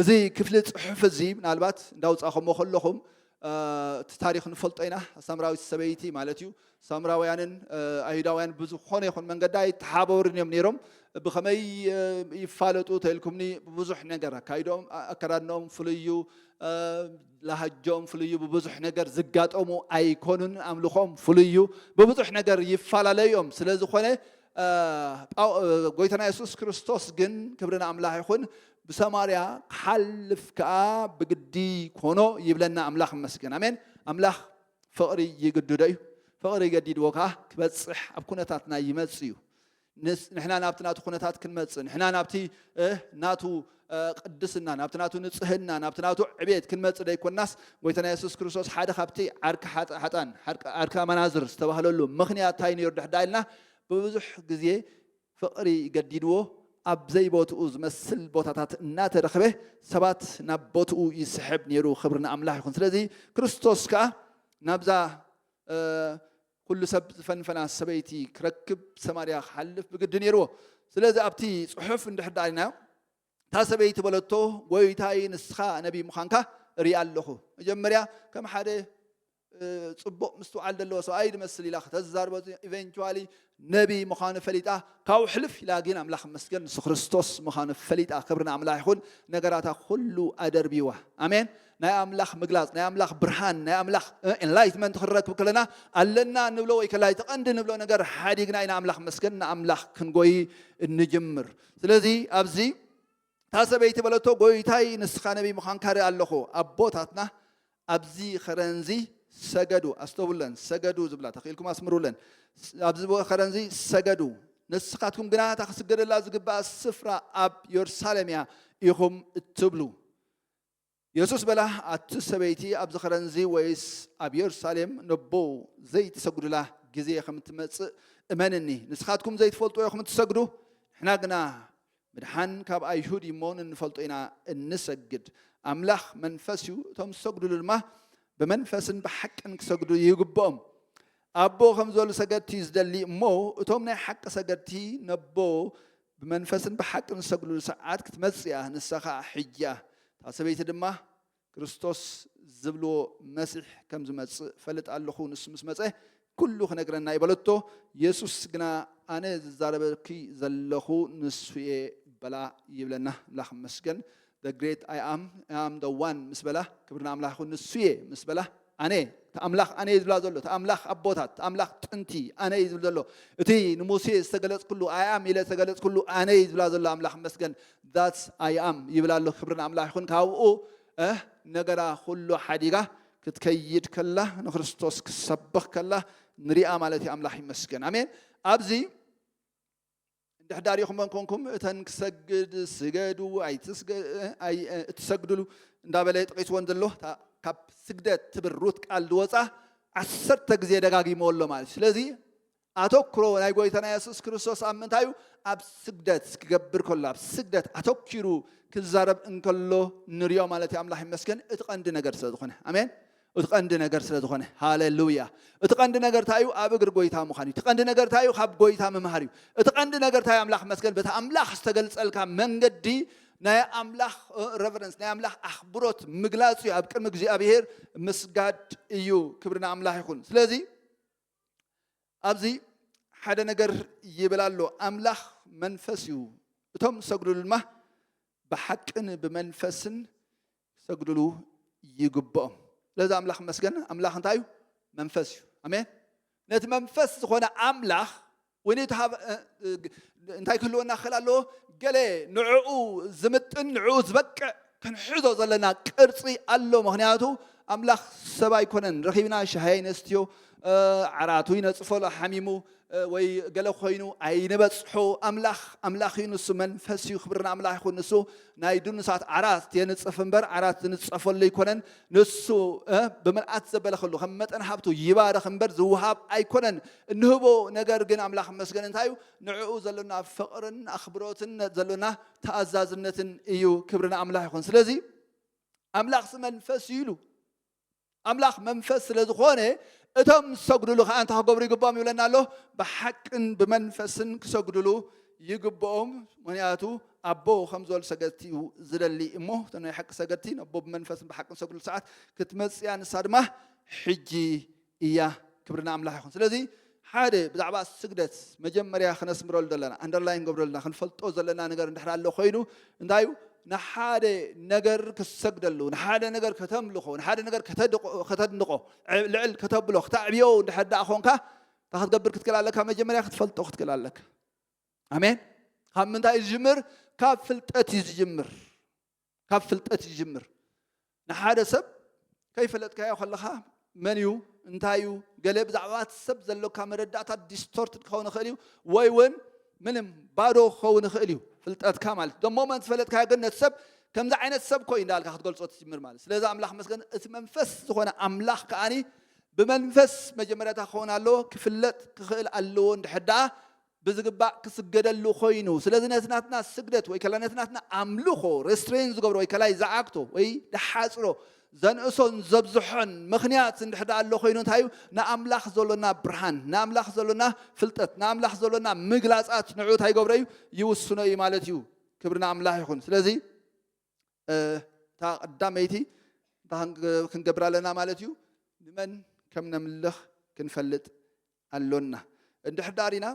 እዚ ክፍሊ ጽሑፍ እዚ ምናልባት እንዳውጻኸሞ ከለኹም እቲ ታሪኽ ንፈልጦ ኢና ሳምራዊት ሰበይቲ ማለት እዩ ሳምራውያንን ኣይሁዳውያን ብዝኾነ ይኹን መንገዲ ኣይተሓባበሩን እዮም ነይሮም ብኸመይ ይፋለጡ ተልኩምኒ ብብዙሕ ነገር ኣካይዶም ኣከዳድኖም ፍልዩ ላሃጆም ፍልዩ ብብዙሕ ነገር ዝጋጠሙ ኣይኮኑን ኣምልኾም ፍልዩ ብብዙሕ ነገር ይፈላለዩ እዮም ስለ ዝኾነ ጎይታና የሱስ ክርስቶስ ግን ክብሪ ንኣምላኽ ይኹን ብሰማርያ ክሓልፍ ከኣ ብግዲ ኮኖ ይብለና ኣምላኽ ይመስገን ኣሜን ኣምላኽ ፍቕሪ ይግድዶ እዩ ፍቕሪ ገዲድዎ ከኣ ክበጽሕ ኣብ ኩነታትና ይመጽእ እዩ ንሕና ናብቲ ናቱ ኩነታት ክንመጽእ ንሕና ናብቲ ናቱ ቅድስና፣ ናብቲ ናቱ ንጽህና፣ ናብቲ ናቱ ዕብየት ክንመጽእ ደይኮንናስ፣ ጎይታና የሱስ ክርስቶስ ሓደ ካብቲ ዓርኪ ሓጥኣን፣ ዓርኪ ኣመናዝር ዝተባህለሉ ምኽንያት ታይ ነይሩ ድሕዳኣ ኢልና ብብዙሕ ግዜ ፍቕሪ ገዲድዎ ኣብ ዘይቦትኡ ዝመስል ቦታታት እናተረኽበ ሰባት ናብ ቦትኡ ይስሕብ ነይሩ ክብሪ ንኣምላኽ ይኹን ስለዚ ክርስቶስ ከኣ ናብዛ ኵሉ ሰብ ዝፈንፈና ሰበይቲ ኪረክብ ሰማርያ ኺሓልፍ ብግዲ ነይርዎ። ስለዚ ኣብቲ ጽሑፍ እንድሕር ደኣ ርኢናዮ፣ እታ ሰበይቲ በለቶ፣ ጐይታይ ንስኻ ነብዪ ምዃንካ እርኢ ኣለኹ። መጀመርያ ከም ሓደ ጽቡቕ ምስትውዓል ዘለዎ ሰብኣይ ዝመስል ኢላ ከተዛርቦ ኢቨንቹዋሊ ነብዪ ምዃኑ ፈሊጣ ካብኡ ሕልፍ ኢላ ግን ኣምላኽ መስገን ንሱ ክርስቶስ ምዃኑ ፈሊጣ ክብሪ ንኣምላኽ ይኹን ነገራታ ኩሉ ኣደርቢዋ ኣሜን ናይ ኣምላኽ ምግላጽ፣ ናይ ኣምላኽ ብርሃን፣ ናይ ኣምላኽ Enlightenment ክንረክብ ከለና ኣለና እንብሎ ወይ ከላይ እቲ ቀንዲ ንብሎ ነገር ሓዲግና ኢና ኣምላኽ መስገን ንኣምላኽ ክንጎይ እንጅምር። ስለዚ ኣብዚ እታ ሰበይቲ በለቶ ጎይታይ ንስኻ ነቢይ ምዃንካ ርኢ ኣለኹ። ኣቦታትና ኣብዚ ኸረንዚ ሰገዱ ኣስተውለን ሰገዱ ዝብላ ተኽኢልኩም ኣስምሩለን ኣብዚ ከረንዚ ሰገዱ ንስኻትኩም ግና እታ ክስገደላ ዝግባእ ስፍራ ኣብ የሩሳሌም እያ ኢኹም እትብሉ የሱስ በላ፣ ኣቲ ሰበይቲ ኣብዚ ኸረንዚ ወይስ ኣብ የሩሳሌም ነቦ ዘይትሰግዱላ ጊዜ ኸም እትመጽእ እመንኒ። ንስኻትኩም ዘይትፈልጥዎ ኢኹም እትሰግዱ፣ ንሕና ግና ምድሓን ካብ ኣይሁድ እዩ እሞ ንንፈልጦ ኢና እንሰግድ። ኣምላኽ መንፈስ እዩ፣ እቶም ዝሰግዱሉ ድማ ብመንፈስን ብሓቅን ክሰግዱ ይግብኦም። ኣቦ ኸም ዝበሉ ሰገድቲ እዩ ዝደሊ እሞ፣ እቶም ናይ ሓቂ ሰገድቲ ነቦ ብመንፈስን ብሓቅን ዝሰግዱሉ ሰዓት ክትመጽእ እያ፣ ንሳ ኸኣ ሕጂ እያ። እታ ሰበይቲ ድማ፣ ክርስቶስ ዝብልዎ መሲሕ ከም ዝመጽእ እፈልጥ ኣለኹ፣ ንሱ ምስ መጸ ኵሉ ኽነግረና እዩ በለቶ። የሱስ ግና፣ ኣነ ዝዛረበኪ ዘለኹ ንሱ እየ በላ ይብለና። ኣምላኽ ይመስገን፣ The Great I Am፣ I Am the One ምስ በላ፣ ክብሪ ንኣምላኽ ይኹን፣ ንሱ እየ ምስ በላ፣ ኣነ እቲ ኣምላኽ ኣነ እዩ ዝብላ ዘሎ እቲ ኣምላኽ ኣቦታት እቲ ኣምላኽ ጥንቲ ኣነ እዩ ዝብል ዘሎ እቲ ንሙሴ ዝተገለጽኩሉ ኣያም ኢለ ዝተገለጽኩሉ ኣነ እዩ ዝብላ ዘሎ ኣምላኽ መስገን ዛትስ ኣያም ይብል ኣሎ ክብሪ ንኣምላኽ ይኹን ካብኡ ነገራ ኩሉ ሓዲጋ ክትከይድ ከላ ንክርስቶስ ክሰብኽ ከላ ንሪኣ ማለት እዩ ኣምላኽ ይመስገን ኣሜን ኣብዚ እንድሕ ዳሪኹመን ኮንኩም እተን ክሰግድ ስገዱ ኣይትሰግድሉ እንዳበለ ጠቂስወን ዘሎ ካብ ስግደት ትብል ሩት ቃል ዝወፃ ዓሰርተ ግዜ ደጋጊሞ ኣሎ ማለት እዩ ስለዚ ኣተኩሮ ናይ ጎይታና የሱስ ክርስቶስ ኣብ ምንታይ እዩ ኣብ ስግደት ክገብር ከሎ ኣብ ስግደት ኣተኪሩ ክዛረብ እንከሎ ንሪኦ ማለት እዩ ኣምላኽ ይመስገን እቲ ቀንዲ ነገር ስለ ዝኾነ ኣሜን እቲ ቀንዲ ነገር ስለ ዝኾነ። ሃለሉያ! እቲ ቀንዲ ነገር እንታይ እዩ? ኣብ እግሪ ጎይታ ምዃን እዩ። እቲ ቀንዲ ነገር እንታይ እዩ? ካብ ጎይታ ምምሃር እዩ። እቲ ቀንዲ ነገር እንታይ እዩ? ኣምላኽ መስገን በቲ ኣምላኽ ዝተገልጸልካ መንገዲ ናይ ኣምላኽ ረቨረንስ ናይ ኣምላኽ ኣኽብሮት ምግላጽ እዩ። ኣብ ቅድሚ እግዚኣብሄር ምስጋድ እዩ። ክብሪ ንኣምላኽ ይኹን። ስለዚ ኣብዚ ሓደ ነገር ይብል ኣሎ፣ ኣምላኽ መንፈስ እዩ፣ እቶም ዝሰግዱሉ ድማ ብሓቅን ብመንፈስን ክሰግድሉ ይግብኦም ስለዚ ኣምላኽ መስገን ኣምላኽ እንታይ እዩ መንፈስ እዩ ኣሜን ነቲ መንፈስ ዝኾነ ኣምላኽ ወይ እንታይ ክህልወና ክኽእል ኣለዎ ገለ ንዕኡ ዝምጥን ንዕኡ ዝበቅዕ ክንሕዞ ዘለና ቅርፂ ኣሎ ምክንያቱ ኣምላኽ ሰብ ኣይኮነን ረኺብና ሻሂ ይነስትዮ ዓራቱ ይነፅፈሎ ሓሚሙ ወይ ገለ ኮይኑ ኣይንበጽሖ ኣምላኽ ኣምላኽ እዩ ንሱ መንፈስ እዩ ክብሪ ንኣምላኽ ይኹን ንሱ ናይ ድኑሳት ዓራት የንጽፍ እምበር ዓራት ዝንጸፈሉ ኣይኮነን ንሱ ብምልኣት ዘበለ ከሉ ከም መጠን ሃብቱ ይባርኽ እምበር ዝውሃብ ኣይኮነን እንህቦ ነገር ግን ኣምላኽ መስገን እንታይ እዩ ንዕኡ ዘሎና ፍቕርን ኣኽብሮትን ዘሎና ተኣዛዝነትን እዩ ክብሪ ንኣምላኽ ይኹን ስለዚ ኣምላኽ መንፈስ እዩ ኢሉ ኣምላኽ መንፈስ ስለ ዝኾነ እቶም ዝሰግዱሉ ከኣ እንታይ ክገብሩ ይግብኦም ይብለና ኣሎ ብሓቅን ብመንፈስን ክሰግዱሉ ይግብኦም ምክንያቱ ኣቦ ከም ዝበሉ ሰገድቲ እዩ ዝደሊ እሞ እቶ ናይ ሓቂ ሰገድቲ ነቦ ብመንፈስን ብሓቅን ሰግዱሉ ሰዓት ክትመፅያ ንሳ ድማ ሕጂ እያ ክብሪ ንኣምላኽ ይኹን ስለዚ ሓደ ብዛዕባ ስግደት መጀመርያ ክነስምረሉ ዘለና ኣንደርላይ ንገብረልና ክንፈልጦ ዘለና ነገር እንድሕር ኣሎ ኮይኑ እንታይ እዩ ንሓደ ነገር ክሰግደሉ ንሓደ ነገር ከተምልኾ ንሓደ ነገር ከተድንቆ ልዕል ከተብሎ ክተዕብዮ እንድሕር ደኣ ኮንካ እንታይ ክትገብር ክትክእል ኣለካ መጀመርያ ክትፈልጦ ክትክእል ኣለካ ኣሜን ካብ ምንታይ እዩ ዝጅምር ካብ ፍልጠት እዩ ዝጅምር ካብ ፍልጠት ይጅምር ንሓደ ሰብ ከይፈለጥካዮ ከለኻ መን እዩ እንታይ እዩ ገለ ብዛዕባ ሰብ ዘሎካ መረዳእታ ዲስቶርትድ ክኸውን ይኽእል እዩ ወይ እውን ምንም ባዶ ክኸውን ይኽእል እዩ ፍልጠትካ ማለት እዩ ደሞ መን ዝፈለጥካዮ ግን ነቲ ሰብ ከምዚ ዓይነት ሰብ ኮይ እንዳልካ ክትገልጾ ትጅምር ማለት ስለዚ ኣምላኽ መስገን እቲ መንፈስ ዝኾነ ኣምላኽ ከዓኒ ብመንፈስ መጀመርያታ ክኸውን ኣለዎ ክፍለጥ ክኽእል ኣለዎ እንድሕር ደኣ ብዝግባእ ክስገደሉ ኮይኑ ስለዚ ነቲ ናትና ስግደት ወይ ከላ ነቲ ናትና ኣምልኾ ሬስትሬን ዝገብሮ ወይ ከላይ ዝዓግቶ ወይ ዝሓጽሮ ዘንእሶን ዘብዝሖን ምኽንያት እንድሕር ደኣ ኣሎ ኮይኑ እንታይ እዩ ንኣምላኽ ዘሎና ብርሃን ንኣምላኽ ዘሎና ፍልጠት ንኣምላኽ ዘሎና ምግላጻት ንዕኡ እንታይ ይገብሮ እዩ ይውስኖ እዩ ማለት እዩ ክብሪ ንኣምላኽ ይኹን ስለዚ እታ ቀዳመይቲ እንታይ ክንገብር ኣለና ማለት እዩ? ንመን ከም ነምልኽ ክንፈልጥ ኣሎና። እንድሕር ደኣ ሪና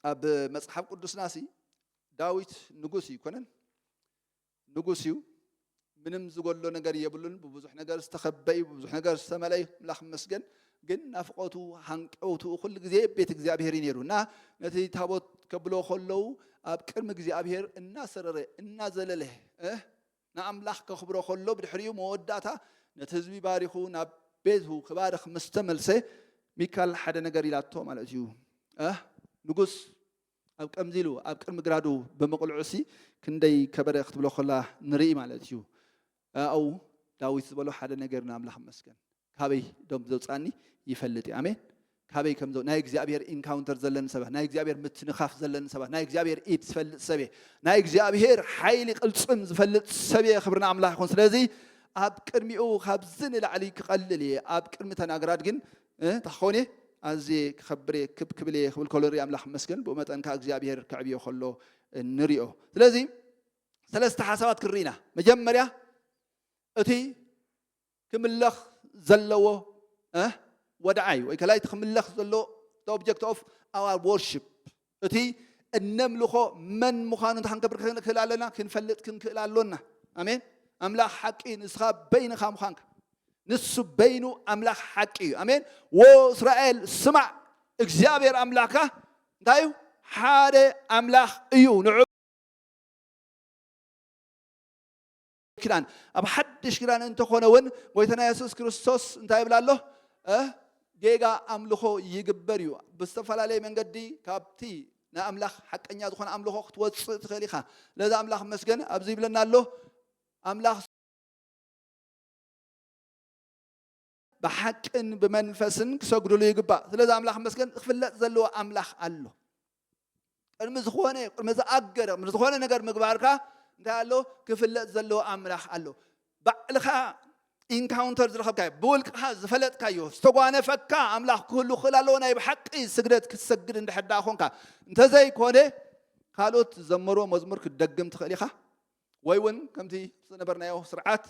ኣብ መጽሓፍ ቅዱስና ሲ ዳዊት ንጉስ ኣይኮነን፣ ንጉስ እዩ ምንም ዝጎሎ ነገር የብሉን። ብብዙሕ ነገር ዝተኸበ እዩ፣ ብብዙሕ ነገር ዝተመልአ እዩ። ኣምላኽ ይመስገን። ግን ናፍቆቱ ሃንቀውትኡ ኩሉ ግዜ ቤት እግዚኣብሔር እዩ ነይሩ እና ነቲ ታቦት ከብሎ ከለዉ ኣብ ቅድሚ እግዚኣብሔር እናሰረረ እናዘለለ ንኣምላኽ ከኽብሮ ከሎ ብድሕሪኡ መወዳእታ ነቲ ህዝቢ ባሪኹ ናብ ቤቱ ክባርኽ ምስ ተመልሰ ሚካል ሓደ ነገር ኢላቶ ማለት እዩ ንጉስ ኣብ ከምዚ ኢሉ ኣብ ቅድሚ ግራዱ ብምቕልዑሲ ክንደይ ከበረ ክትብሎ ከላ ንርኢ ማለት እዩ ኣው ዳዊት ዝበሎ ሓደ ነገር ንኣምላኽ መስገን ካበይ ደም ዘውጽኣኒ ይፈልጥ እየ ኣሜን ካበይ ከም ናይ እግዚኣብሔር ኢንካውንተር ዘለኒ ሰባት ናይ እግዚኣብሔር ምትንኻፍ ዘለኒ ሰባት ናይ እግዚኣብሔር ኢድ ዝፈልጥ ሰብ እየ ናይ እግዚኣብሔር ሓይሊ ቅልፅም ዝፈልጥ ሰብ እየ ክብሪ ንኣምላኽ ይኹን ስለዚ ኣብ ቅድሚኡ ካብዚ ንላዕሊ ክቐልል እየ ኣብ ቅድሚ ተናግራት ግን እንታይ ክኸውን እየ ኣዝየ ክኸብር እየ ክብ ክብል እየ ክብል ከሎ ንሪኢ ኣምላኽ መስገን ብኡ መጠን ከዓ እግዚኣብሔር ከዕብዮ ከሎ ንሪኦ ስለዚ ሰለስተ ሓሳባት ክንርኢና መጀመርያ እቲ ክምለኽ ዘለዎ እ ወድዓ እዩ። ወይ ከላይ እቲ ክምለኽ ዘለዎ the object of our worship እቲ እነምልኾ መን ምዃኑ እንታይ ክንገብር ክንክእል ኣለና? ክንፈልጥ ክንክእል ኣሎና። ኣሜን። ኣምላኽ ሓቂ ንስኻ በይንኻ ምዃንካ ንሱ በይኑ ኣምላኽ ሓቂ እዩ። ኣሜን። ወ እስራኤል ስማዕ እግዚኣብሔር ኣምላኽካ እንታይ እዩ? ሓደ ኣምላኽ እዩ። ንዑ ኪዳን ኣብ ሓድሽ ኪዳን እንተኾነ እውን ጎይታና የሱስ ክርስቶስ እንታይ ይብላ ኣሎ ጌጋ ኣምልኾ ይግበር እዩ ብዝተፈላለየ መንገዲ ካብቲ ናይ ኣምላኽ ሓቀኛ ዝኾነ ኣምልኾ ክትወፅእ ትኽእል ኢኻ ነዚ ኣምላኽ መስገን ኣብዚ ይብለና ኣሎ ኣምላኽ ብሓቅን ብመንፈስን ክሰግድሉ ይግባእ። ስለዚ ኣምላኽ ይመስገን ክፍለጥ ዘለዎ ኣምላኽ ኣሎ። ቅድሚ ዝኾነ ቅድሚ ዝኣገረ ቅድሚ ዝኾነ ነገር ምግባርካ እንታይ ኣሎ ክፍለጥ ዘለዎ ኣምላኽ ኣሎ። ባዕልኻ ኢንካውንተር ዝረኸብካዮ ብውልቅኻ ዝፈለጥካዮ ዝተጓነፈካ ኣምላኽ ክህሉ ክኽእል ኣለዎ። ናይ ብሓቂ ስግደት ክትሰግድ እንድሕር ደኣ ኮንካ እንተዘይኮነ ካልኦት ዝዘመርዎ መዝሙር ክትደግም ትኽእል ኢኻ። ወይ እውን ከምቲ ዝነበርናዮ ስርዓት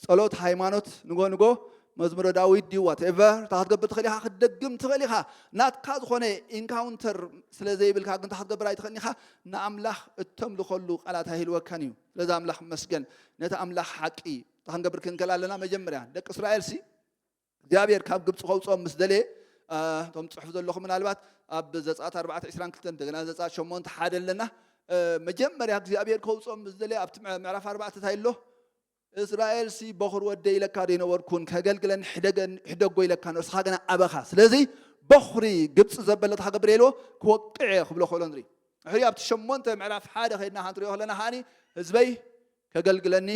ጸሎት ሃይማኖት ንጎ ንጎ መዝሙረ ዳዊት ድዩ ዋትኤቨር እታ ክትገብር ትኽእል ኢኻ ክትደግም ትኽእል ኢኻ ናትካ ዝኾነ ኢንካውንተር ስለ ዘይብልካ ግን እታ ክትገብር ኣይትኽእልን ኢኻ ንኣምላኽ እተምልኸሉ ቃላት ኣይህልወካን እዩ ስለዚ ኣምላኽ መስገን ነቲ ኣምላኽ ሓቂ እታ ክንገብር ክንከል ኣለና መጀመርያ ደቂ እስራኤል ሲ እግዚኣብሔር ካብ ግብፂ ከውፅኦም ምስ ደለየ እቶም ትፅሕፉ ዘለኹም ምናልባት ኣብ ዘፀኣት ኣርባዕተ ዕስራን ክልተን እንደገና ዘፀኣት ሸሞንተ ሓደ ኣለና መጀመርያ እግዚኣብሔር ከውፅኦም ምስ ደለየ ኣብቲ ምዕራፍ ኣርባዕተ እንታይ ኣሎ እስራኤል ሲ በኹር ወደይ ኢለካ ዶ ይነበርኩን ከገልግለን ሕደገን- ሕደጎ ኢለካ ንስኻ ግና ኣበኻ ስለዚ በኹሪ ግብፂ ዘበለት ሃገብር ኢልዎ ክወቅዕ እየ ክብሎ ከሎ ንርኢ ሕሪ ኣብቲ ሸሞንተ ምዕራፍ ሓደ ከድና ክንሪኦ ከለና ከዓኒ ህዝበይ ከገልግለኒ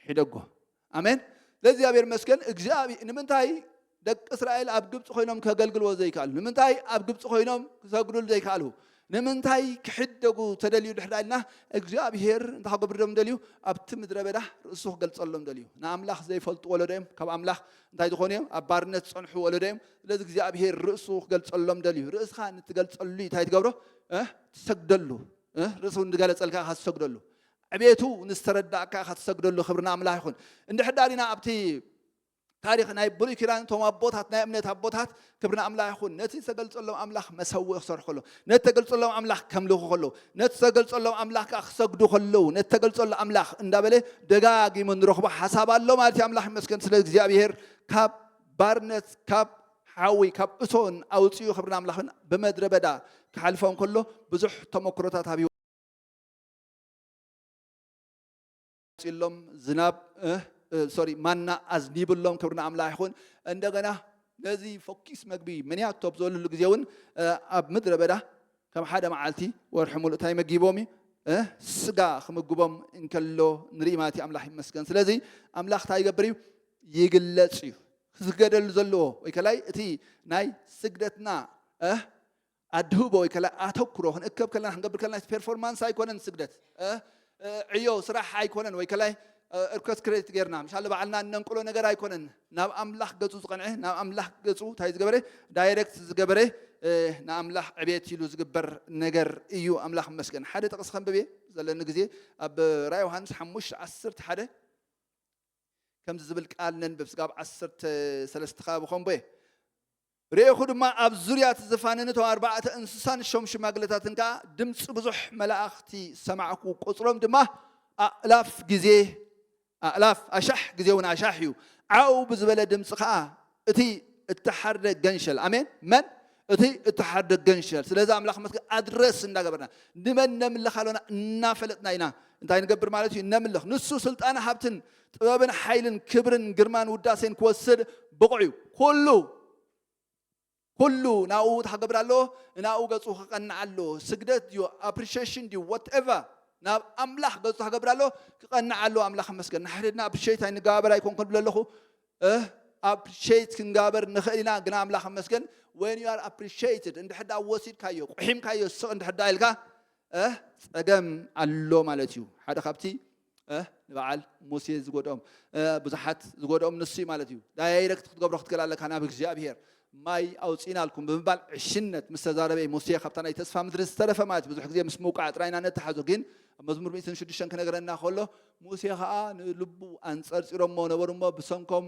ሕደጎ ኣሜን ለእግዚኣብሔር ይመስገን እግዚኣብሔር ንምንታይ ደቂ እስራኤል ኣብ ግብፂ ኮይኖም ከገልግልዎ ዘይከኣሉ ንምንታይ ኣብ ግብፂ ኮይኖም ክሰግዱሉ ዘይከኣሉ ንምንታይ ክሕደጉ ተደልዩ ድሕዳ ኢልና እግዚኣብሄር እንታይ ክገብርዶም ደልዩ ኣብቲ ምድረ በዳ ርእሱ ክገልፀሎም ደልዩ ንኣምላኽ ዘይፈልጡ ወለዶ እዮም ካብ ኣምላኽ እንታይ ዝኾኑ እዮም ኣብ ባርነት ዝፀንሑ ወለዶ እዮም ስለዚ እግዚኣብሄር ርእሱ ክገልፀሎም ደልዩ ርእስኻ ንትገልፀሉ እንታይ ትገብሮ ትሰግደሉ ርእሱ ንገለፀልካ ካ ትሰግደሉ ዕቤቱ ንዝተረዳእካ ኢኻ ትሰግደሉ ክብሪ ንኣምላኽ ይኹን። እንድሕር ድኣ ሪኢና ኣብቲ ታሪኽ ናይ ብሉይ ኪዳን እቶም ኣቦታት ናይ እምነት ኣቦታት ክብሪ ንኣምላኽ ይኹን ነቲ ዝተገልጸሎም ኣምላኽ መሰውኢ ክሰርሑ ከለዉ ነቲ ተገልጸሎም ኣምላኽ ከምልኹ ከለዉ ነቲ ዝተገልጸሎም ኣምላኽ ከዓ ክሰግዱ ከለዉ ነቲ ተገልጸሉ ኣምላኽ እንዳበለ ደጋጊሙ ንረኽቦ ሓሳብ ኣሎ ማለት እዩ ኣምላኽ ይመስገን ስለ እግዚኣብሄር ካብ ባርነት ካብ ሓዊ ካብ እቶን ኣውፅኡ ክብርን ኣምላኽን ብመድረ በዳ ክሓልፎም ከሎ ብዙሕ ተመክሮታት ኣብ ጺሎም ዝናብ ሶሪ ማና ኣዝኒብሎም ክብሪ ንኣምላኽ ይኹን እንደገና ነዚ ፈኪስ መግቢ ምንያቶ ኣብ ዘለሉ ግዜ እውን ኣብ ምድረ በዳ ከም ሓደ መዓልቲ ወርሒ ሙሉእ እንታይ መጊቦም እዩ ስጋ ክምግቦም እንከሎ ንርኢ ማለት እዩ ኣምላኽ ይመስገን ስለዚ ኣምላኽ እንታይ ይገብር እዩ ይግለፅ እዩ ክስገደሉ ዘለዎ ወይ ከላይ እቲ ናይ ስግደትና ኣድህቦ ወይ ከላ ኣተኩሮ ክንእከብ ከለና ክንገብር ከለና ፐርፎርማንስ ኣይኮነን ስግደት ዕዮ ስራሕ ኣይኮነን ወይ ከላይ እርከስ ክሬዲት ጌርና ምሻ ባዕልና እነንቅሎ ነገር ኣይኮነን ናብ ኣምላኽ ገጹ ዝቐንዐ ናብ ኣምላኽ ገጹ እንታይ ዝገበረ ዳይሬክት ዝገበረ ንኣምላኽ ዕቤት ኢሉ ዝግበር ነገር እዩ ኣምላኽ መስገን ሓደ ጥቕስ ከንብብ እየ ዘለኒ ግዜ ኣብ ራ ዮሃንስ ሓሙሽተ ዓሰርተ ሓደ ከምዚ ዝብል ቃል ነንብብ ስጋብ ዓሰርተ ሰለስተ ከባቢ ኮንቦ እየ ርኤኹ ድማ፣ ኣብ ዙርያ እቲ ዝፋን እቶም ኣርባዕተ እንስሳን ሸም ሽማግለታትን ከኣ ድምጺ ብዙሕ መላእኽቲ ሰማዕኩ፣ ቍጽሮም ድማ ኣእላፍ ግዜ ኣእላፍ፣ ኣሻሕ ግዜውን ኣሻሕ እዩ። ዓው ብዝበለ ድምጺ ኸኣ እቲ እተሓርደ ገንሸል፣ ኣሜን፣ መን? እቲ እተሓርደ ገንሸል፣ ስለዚ ኣምላኽ መስገን ኣድረስ እንዳገበርና፣ ንመን ነምልኽ ኣሎና እናፈለጥና ኢና እንታይ ንገብር ማለት እዩ፣ ነምልኽ። ንሱ ስልጣን ሃብትን ጥበብን ሓይልን ክብርን ግርማን ውዳሴን ክወስድ ብቑዕ እዩ። ኩሉ ኩሉ ናብኡ እንታይ ክገብር ኣለዎ? ንናብኡ ገጹ ክቐንዕ ኣለዎ። ስግደት ድዩ ኣፕሪሺየሽን ድዩ ወትኤቨር ናብ ኣምላኽ ገጹ እንታይ ክገብር ኣለዎ? ክቐንዕ ኣለዎ። ኣምላኽ ይመስገን ንሓድሕድና ኣፕሪሺየት ኣይንገባበር ኣይኮንኩ ንብል ኣለኹ ኣፕሪሺየት ክንገባበር ንኽእል ኢና፣ ግና ኣምላኽ ይመስገን ወን ዩ ኣር ኣፕሪሺየትድ እንድሕር ደኣ ወሲድካዮ ቁሒምካዮ ስቕ እንድሕር ደኣ ኢልካ ጸገም ኣሎ ማለት እዩ። ሓደ ካብቲ እህ ንበዓል ሙሴ ዝጎድኦም ብዙሓት ዝጎድኦም ንሱ እዩ ማለት እዩ። ዳይረክት ክትገብሮ ክትክእል ኣለካ ናብ እግዚኣብሄር ማይ ኣውፂእናልኩም ብምባል ዕሽነት ምስ ተዛረበ ሙሴ ካብታ ናይ ተስፋ ምድሪ ዝተረፈ ማለት ብዙሕ ግዜ ምስ ምውቃዕ ጥራይ ኢና ነተሓዞ ግን ኣብ መዝሙር ሚእትን ሽዱሽተን ክነገረና ከሎ ሙሴ ከዓ ንልቡ ኣንፀርፂሮሞ ነበሩ እሞ ብሰንኮም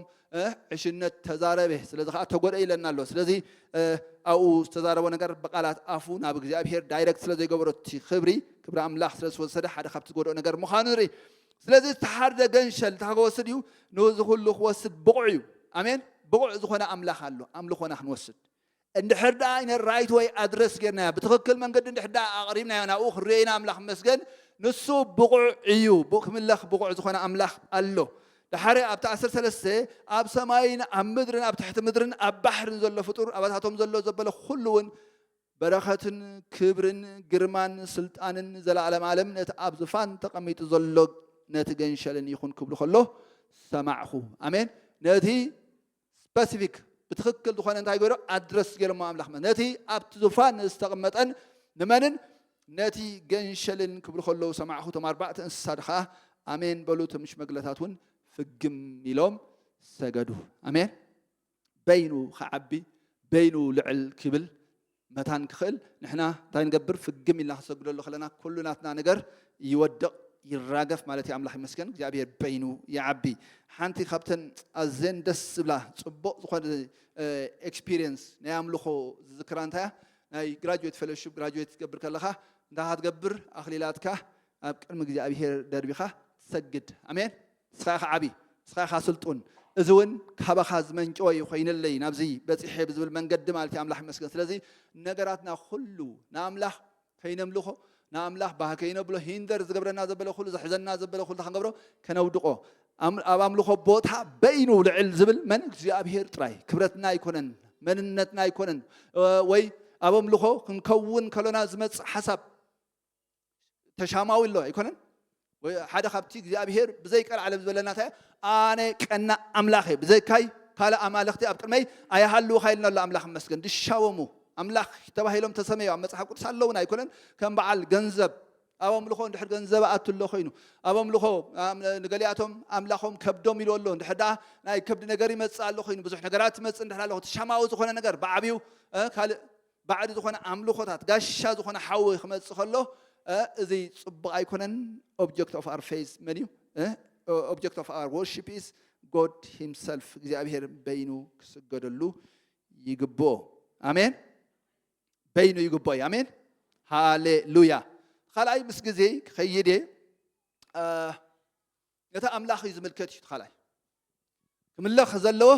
ዕሽነት ተዛረበ ስለዚ ከዓ ተጎድአ ኢለና ኣሎ ስለዚ ኣብኡ ዝተዛረቦ ነገር ብቃላት ኣፉ ናብ እግዚኣብሄር ዳይረክት ስለዘይገበሮ እቲ ክብሪ ክብሪ ኣምላኽ ስለዝወሰደ ሓደ ካብቲ ዝጎድኦ ነገር ምዃኑ ንርኢ ስለዚ ዝተሓርደ ገንሸል እንታይ ክወስድ እዩ ንዚ ኩሉ ክወስድ ብቑዕ እዩ ኣሜን ብቑዕ ዝኾነ ኣምላኽ ኣሎ ኣምልኾና ክንወስድ እንድሕር ደኣ in a right way address ጌርናዮ፣ ብትኽክል መንገዲ እንድሕር ደኣ ኣቕሪብናዮ ናብኡ ክንርእዮ ኢና ኣምላኽ ይመስገን ንሱ ብቑዕ እዩ፣ ክምለኽ ብቑዕ ዝኾነ ኣምላኽ ኣሎ። ደሓር ኣብቲ ዓሰርተ ሰለስተ ኣብ ሰማይን ኣብ ምድርን ኣብ ትሕቲ ምድርን ኣብ ባሕርን ዘሎ ፍጡር ኣባታቶም ዘሎ ዘበለ ኩሉ እውን በረኸትን ክብርን ግርማን ስልጣንን ዘለኣለም ኣለም ነቲ ኣብ ዝፋን ተቐሚጡ ዘሎ ነቲ ገንሸልን ይኹን ክብሉ ከሎ ሰማዕኹ። ኣሜን። ነቲ ስፐሲፊክ ብትኽክል ዝኾነ እንታይ ገይሮ ኣድረስ ገይሮሞ ኣምላኽ መ ነቲ ኣብቲ ዙፋን ንዝተቐመጠን ንመንን ነቲ ገንሸልን ክብሉ ከለዉ ሰማዕኹ እቶም ኣርባዕተ እንስሳ ድኸዓ ኣሜን በሉ እቶም ሽመግለታት እውን ፍግም ኢሎም ሰገዱ ኣሜን በይኑ ክዓቢ በይኑ ልዕል ክብል መታን ክኽእል ንሕና እንታይ ንገብር ፍግም ኢልና ክንሰግደሉ ከለና ኩሉ ናትና ነገር ይወድቕ ይራገፍ ማለት እዩ ኣምላኽ ይመስገን እግዚኣብሔር በይኑ ይዓቢ ሓንቲ ካብተን ኣዘን ደስ ዝብላ ፅቡቕ ዝኾነ ኤክስፒሪየንስ ናይ ኣምልኾ ዝዝክራ እንታይ እያ ናይ ግራጅዌት ፌሎሽፕ ግራጅዌት ትገብር ከለኻ እንታይ ክትገብር ኣኽሊላትካ ኣብ ቅድሚ እግዚኣብሔር ደርቢኻ ትሰግድ ኣሜን ንስኻ ኢኻ ዓቢ፣ ንስኻ ኢኻ ስልጡን፣ እዚ ውን ካባኻ ዝመንጨወ እዩ ኮይንለይ ናብዚ በጺሐ ብዝብል መንገዲ ማለት እዩ ኣምላኽ ይመስገን። ስለዚ ንነገራትና ኩሉ ንኣምላኽ ከይነምልኾ ንኣምላኽ ባህ ከይነብሎ ሂንደር ዝገብረና ዘበለ ኩሉ ዘሕዘና ዘበለ ኩሉ ክንገብሮ ከነውድቆ ኣብ ኣምልኾ ቦታ በይኑ ልዕል ዝብል መን እግዚኣብሄር ጥራይ ክብረትና ኣይኮነን መንነትና ኣይኮነን ወይ ኣብ ኣምልኾ ክንከውን ከሎና ዝመጽእ ሓሳብ ተሻማዊ ኣሎ ኣይኮነን ሓደ ካብቲ እግዚኣብሄር ብዘይ ቀልዓለም ዝበለና እንታይ ኣነ ቀና ኣምላኽ እየ ብዘይካይ ካልእ ኣማልኽቲ ኣብ ቅድመይ ኣይሃልውካ ኢልና ኣሎ ኣምላኽ መስገን ድሻወሙ ኣምላኽ ተባሂሎም ተሰመዮ ኣብ መፅሓፍ ቅዱስ ኣለውን ኣይኮነን ከም በዓል ገንዘብ ኣብ ኣምልኾ እንድሕር ገንዘብ ኣቱ ኣሎ ኮይኑ ኣብ ኣምልኾ ንገሊኣቶም ኣምላኾም ከብዶም ኢሉ ኣሎ እንድሕር ደኣ ናይ ከብዲ ነገር ይመፅእ ኣሎ ኮይኑ ብዙሕ ነገራት ይመፅእ እንድሕር ኣለኹ ተሻማዊ ዝኾነ ነገር ብዓብዩ ካልእ ባዕዲ ዝኾነ ኣምልኾታት ጋሻ ዝኾነ ሓዊ ክመጽእ ከሎ እዚ ጽቡቕ ኣይኮነን ኦብጀክት ኦፍ ኣር ፌዝ መን እዩ ኦብጀክት ኦፍ ኣር ወርሺፕ ኢዝ ጎድ ሂምሰልፍ እግዚኣብሄር በይኑ ክስገደሉ ይግብኦ ኣሜን በይኑ ይግብኦ እዩ ኣሜን ሃሌሉያ ካልኣይ ምስ ግዜ ክኸይድ እየ ነቲ ኣምላኽ እዩ ዝምልከት እዩ ተኻላይ ክምለኽ ዘለዎ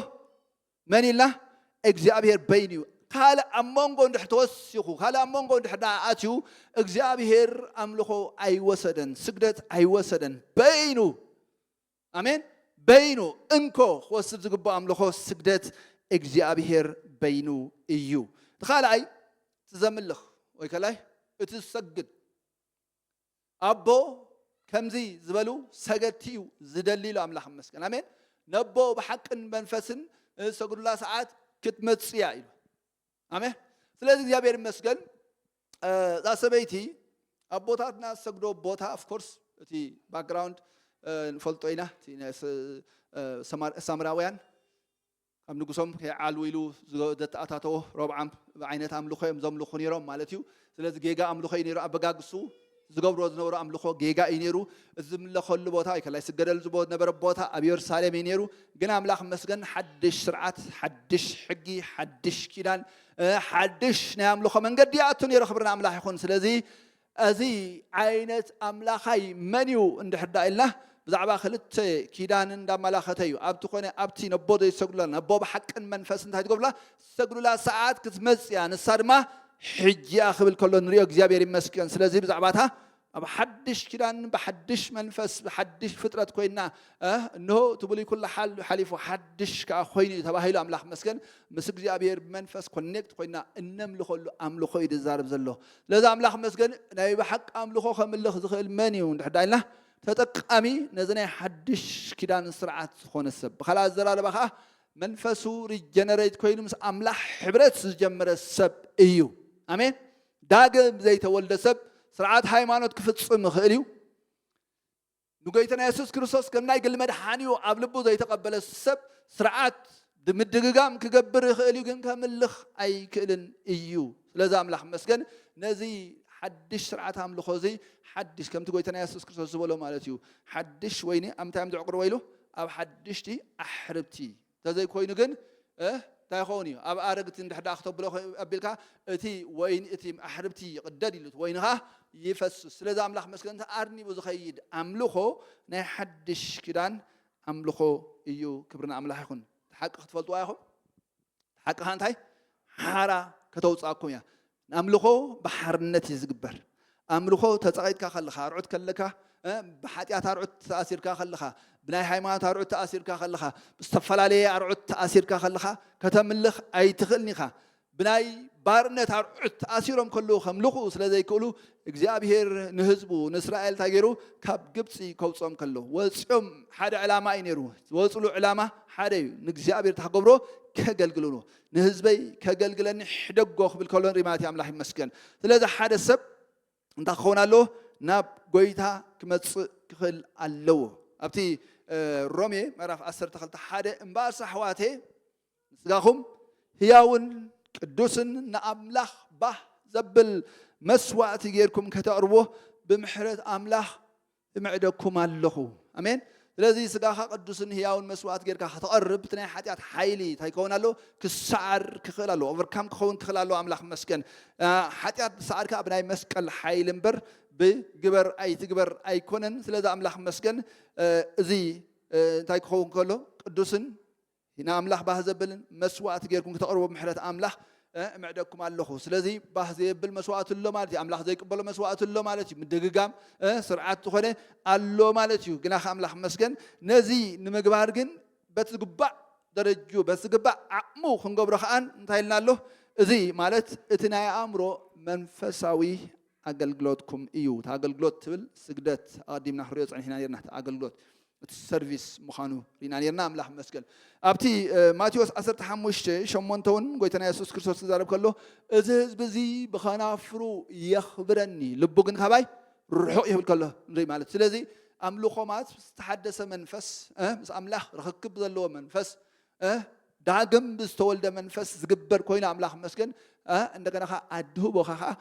መን ኢልና እግዚኣብሄር በይኑ እዩ ካልእ ኣብ መንጎ እንድሕር ተወሲኹ ካልእ ኣብ መንጎ እንድሕር ደኣ ኣትዩ እግዚኣብሄር ኣምልኾ ኣይወሰደን ስግደት ኣይወሰደን በይኑ ኣሜን በይኑ እንኮ ክወስድ ዝግብኦ ኣምልኾ ስግደት እግዚኣብሄር በይኑ እዩ እቲ ካልኣይ እቲ ዘምልኽ ወይ ከላይ እቲ ዝሰግድ ኣቦ ከምዚ ዝበሉ ሰገድቲ እዩ ዝደሊ ኢሉ ኣምላኽ መስገን ኣሜን ነቦ ብሓቅን መንፈስን ሰግዱላ ሰዓት ክትመጽእ እያ ኢሉ ኣሜን ስለዚ እግዚኣብሔር ይመስገን እዛ ሰበይቲ ኣቦታትና ዝሰግዶ ቦታ ኣፍኮርስ እቲ ባክግራውንድ ንፈልጦ ኢና ሳምራውያን ካብ ንጉሶም ከይዓልዉ ኢሉ ዘተኣታተዎ ሮብዓም ብዓይነት ኣምልኾ እዮም ዘምልኹ ነይሮም ማለት እዩ ስለዚ ጌጋ ኣምልኾ እዩ ነይሩ ኣበጋግሱ ዝገብሮ ዝነበሩ ኣምልኾ ጌጋ እዩ ነይሩ እዚ ዝምለኸሉ ቦታ ወይ ከላይ ስገደሉ ዝነበረ ቦታ ኣብ የሩሳሌም እዩ ነይሩ ግን ኣምላኽ መስገን ሓድሽ ስርዓት ሓድሽ ሕጊ ሓድሽ ኪዳን ሓድሽ ናይ ኣምልኾ መንገዲ ይኣቱ ነይሩ ክብርና ኣምላኽ ይኹን ስለዚ እዚ ዓይነት ኣምላኻይ መን እዩ እንድሕር ደኣ ኢልና ብዛዕባ ክልተ ኪዳን እንዳመላኸተ እዩ። ኣብቲ ኮነ ኣብቲ ነቦ ዘይሰግዱላ ነቦ ብሓቅን መንፈስን እንታይ ትገብሩላ ዝሰግዱላ ሰዓት ክትመጽእ እያ ንሳ ድማ ሕጂ እያ ክብል ከሎ ንሪኦ እግዚኣብሔር ይመስገን። ስለዚ ብዛዕባ እታ ኣብ ሓድሽ ኪዳን ብሓድሽ መንፈስ ብሓድሽ ፍጥረት ኮይና እንሆ እቲ ብሉይ ኩሉ ሓሊፉ ሓድሽ ከዓ ኮይኑ እዩ ተባሂሉ ኣምላኽ መስገን ምስ እግዚኣብሔር ብመንፈስ ኮኔክት ኮይና እነምልኸሉ ኣምልኾ እዩ ዝዛረብ ዘሎ ስለዚ ኣምላኽ መስገን ናይ ብሓቂ ኣምልኾ ከምልኽ ዝኽእል መን እዩ እንድሕር ኢልና ተጠቃሚ ነዚ ናይ ሓድሽ ኪዳን ስርዓት ዝኾነ ሰብ ብካልእ ኣዘራርባ ከዓ መንፈሱ ሪጀነሬት ኮይኑ ምስ ኣምላኽ ሕብረት ዝጀመረ ሰብ እዩ ኣሜን ዳግም ዘይተወልደ ሰብ ስርዓት ሃይማኖት ክፍፅም ይኽእል እዩ ንጎይትና የሱስ ክርስቶስ ከም ናይ ግሊ መድሓኒኡ ኣብ ልቡ ዘይተቀበለ ሰብ ስርዓት ብምድግጋም ክገብር ይኽእል እዩ ግን ከምልኽ ኣይክእልን እዩ ስለዚ ኣምላኽ መስገን ነዚ ሓድሽ ስርዓት ኣምልኾ እዚ ሓድሽ ከምቲ ጎይታና የሱስ ክርስቶስ ዝበሎ ማለት እዩ ሓድሽ ወይኒ ኣብ ምንታይ እዮም ዘዕቁርዎ ኢሉ ኣብ ሓድሽቲ ኣሕርብቲ ተዘይ ኮይኑ ግን እንታይ ይኸውን እዩ ኣብ ኣረግቲ እንድሕር ደኣ ክተብሎ ኣቢልካ እቲ ወይኒ እቲ ኣሕርብቲ ይቕደድ ኢሉ እቲ ወይኒ ኸኣ ይፈስስ ስለዚ ኣምላኽ መስገን እቲ ኣርኒቡ ዝኸይድ ኣምልኾ ናይ ሓድሽ ኪዳን ኣምልኾ እዩ ክብሪ ንኣምላኽ ይኹን እቲ ሓቂ ክትፈልጥዋ ኢኹም እቲ ሓቂ ኸኣ እንታይ ሓራ ከተውፅኣኩም እያ ኣምልኾ ብሓርነት እዩ ዝግበር። ኣምልኾ ተጸቒጥካ ከለኻ፣ ኣርዑት ከለካ፣ ብሓጢኣት ኣርዑት ተኣሲርካ ከለኻ፣ ብናይ ሃይማኖት ኣርዑት ተኣሲርካ ከለኻ፣ ብዝተፈላለየ ኣርዑት ተኣሲርካ ከለኻ ከተምልኽ ኣይትኽእልን ኢኻ። ብናይ ባርነት ኣርዑት ተኣሲሮም ከለዉ ከምልኹ ስለ ዘይክእሉ እግዚኣብሄር ንህዝቡ ንእስራኤል እንታይ ገይሩ ካብ ግብፂ ከውፅኦም ከሎ ወፂኦም ሓደ ዕላማ እዩ ነይሩ ዝወፅሉ ዕላማ ሓደ እዩ ንእግዚኣብሄር ታክገብሮ ከገልግሉ ንህዝበይ ከገልግለኒ ሕደጎ ክብል ከሎ ንርኢ ማለት እዩ ኣምላኽ ይመስገን ስለዚ ሓደ ሰብ እንታይ ክኸውን ኣለዎ ናብ ጎይታ ክመፅእ ክኽእል ኣለዎ ኣብቲ ሮሜ ምዕራፍ 12 ሓደ እምበኣርስ ኣሕዋቴ ንስጋኹም ህያውን ቅዱስን ንኣምላኽ ባህ ዘብል መስዋእቲ ጌርኩም ከተቕርቦ ብምሕረት ኣምላኽ እምዕደኩም ኣለኹ። ኣሜን። ስለዚ ስጋኻ ቅዱስን ህያውን መስዋእት ጌርካ ከተቐርብ እቲ ናይ ሓጢኣት ሓይሊ እንታይ ክኸውን ኣለዎ? ክሰዓር ክኽእል ኣለዎ። ኦቨርካም ክኸውን ክኽእል ኣለዎ። ኣምላኽ መስገን ሓጢኣት ብሰዓር ከዓ ብናይ መስቀል ሓይሊ እምበር ብግበር ኣይትግበር ኣይኮነን። ስለዚ ኣምላኽ መስገን እዚ እንታይ ክኸውን ከሎ ቅዱስን ን ኣምላኽ ባህ ዘብልን መስዋእቲ ጌርኩም ክተቕርቡ ብ ምሕረት ኣምላኽ እምዕደኩም ኣሎኹ። ስለዚ ባህ ዘየብል መስዋእቲ ኣሎ ማለት እዩ። ኣምላኽ ዘይቅበሎ መስዋእቲ ኣሎ ማለት እዩ። ምድግጋም ስርዓት ዝኾነ ኣሎ ማለት እዩ። ግናኸ ኣምላኽ ይመስገን ነዚ ንምግባር ግን በቲ ዝግባእ ደረጅኡ በቲ ዝግባእ ዓቕሙ ክንገብሮ ከኣ እንታይ ኢልና ኣሎ እዚ ማለት እቲ ናይ ኣእምሮ መንፈሳዊ ኣገልግሎትኩም እዩ። እቲ ኣገልግሎት ትብል ስግደት ኣቐዲምና ክንሪኦ ጸኒሕና ኔርና እቲ ኣገልግሎት እቲ ሰርቪስ ምዃኑ ሪና ኔርና ኣምላኽ ይመስገን። ኣብቲ ማቴዎስ ዓሰርተ ሓሙሽተ ሸሞንተ እውን ጎይታና የሱስ ክርስቶስ ክዛረብ ከሎ እዚ ህዝቢ እዚ ብኸናፍሩ የኽብረኒ ልቡ ግን ካባይ ርሑቕ ይብል ከሎ ንርኢ ማለት ስለዚ ኣምልኾ ማለት ዝተሓደሰ መንፈስ ምስ ኣምላኽ ርኽክብ ዘለዎ መንፈስ እ ዳግም ብዝተወልደ መንፈስ ዝግበር ኮይኑ ኣምላኽ ይመስገን እ እንደገና ከኣ ኣድህቦኻ ከኣ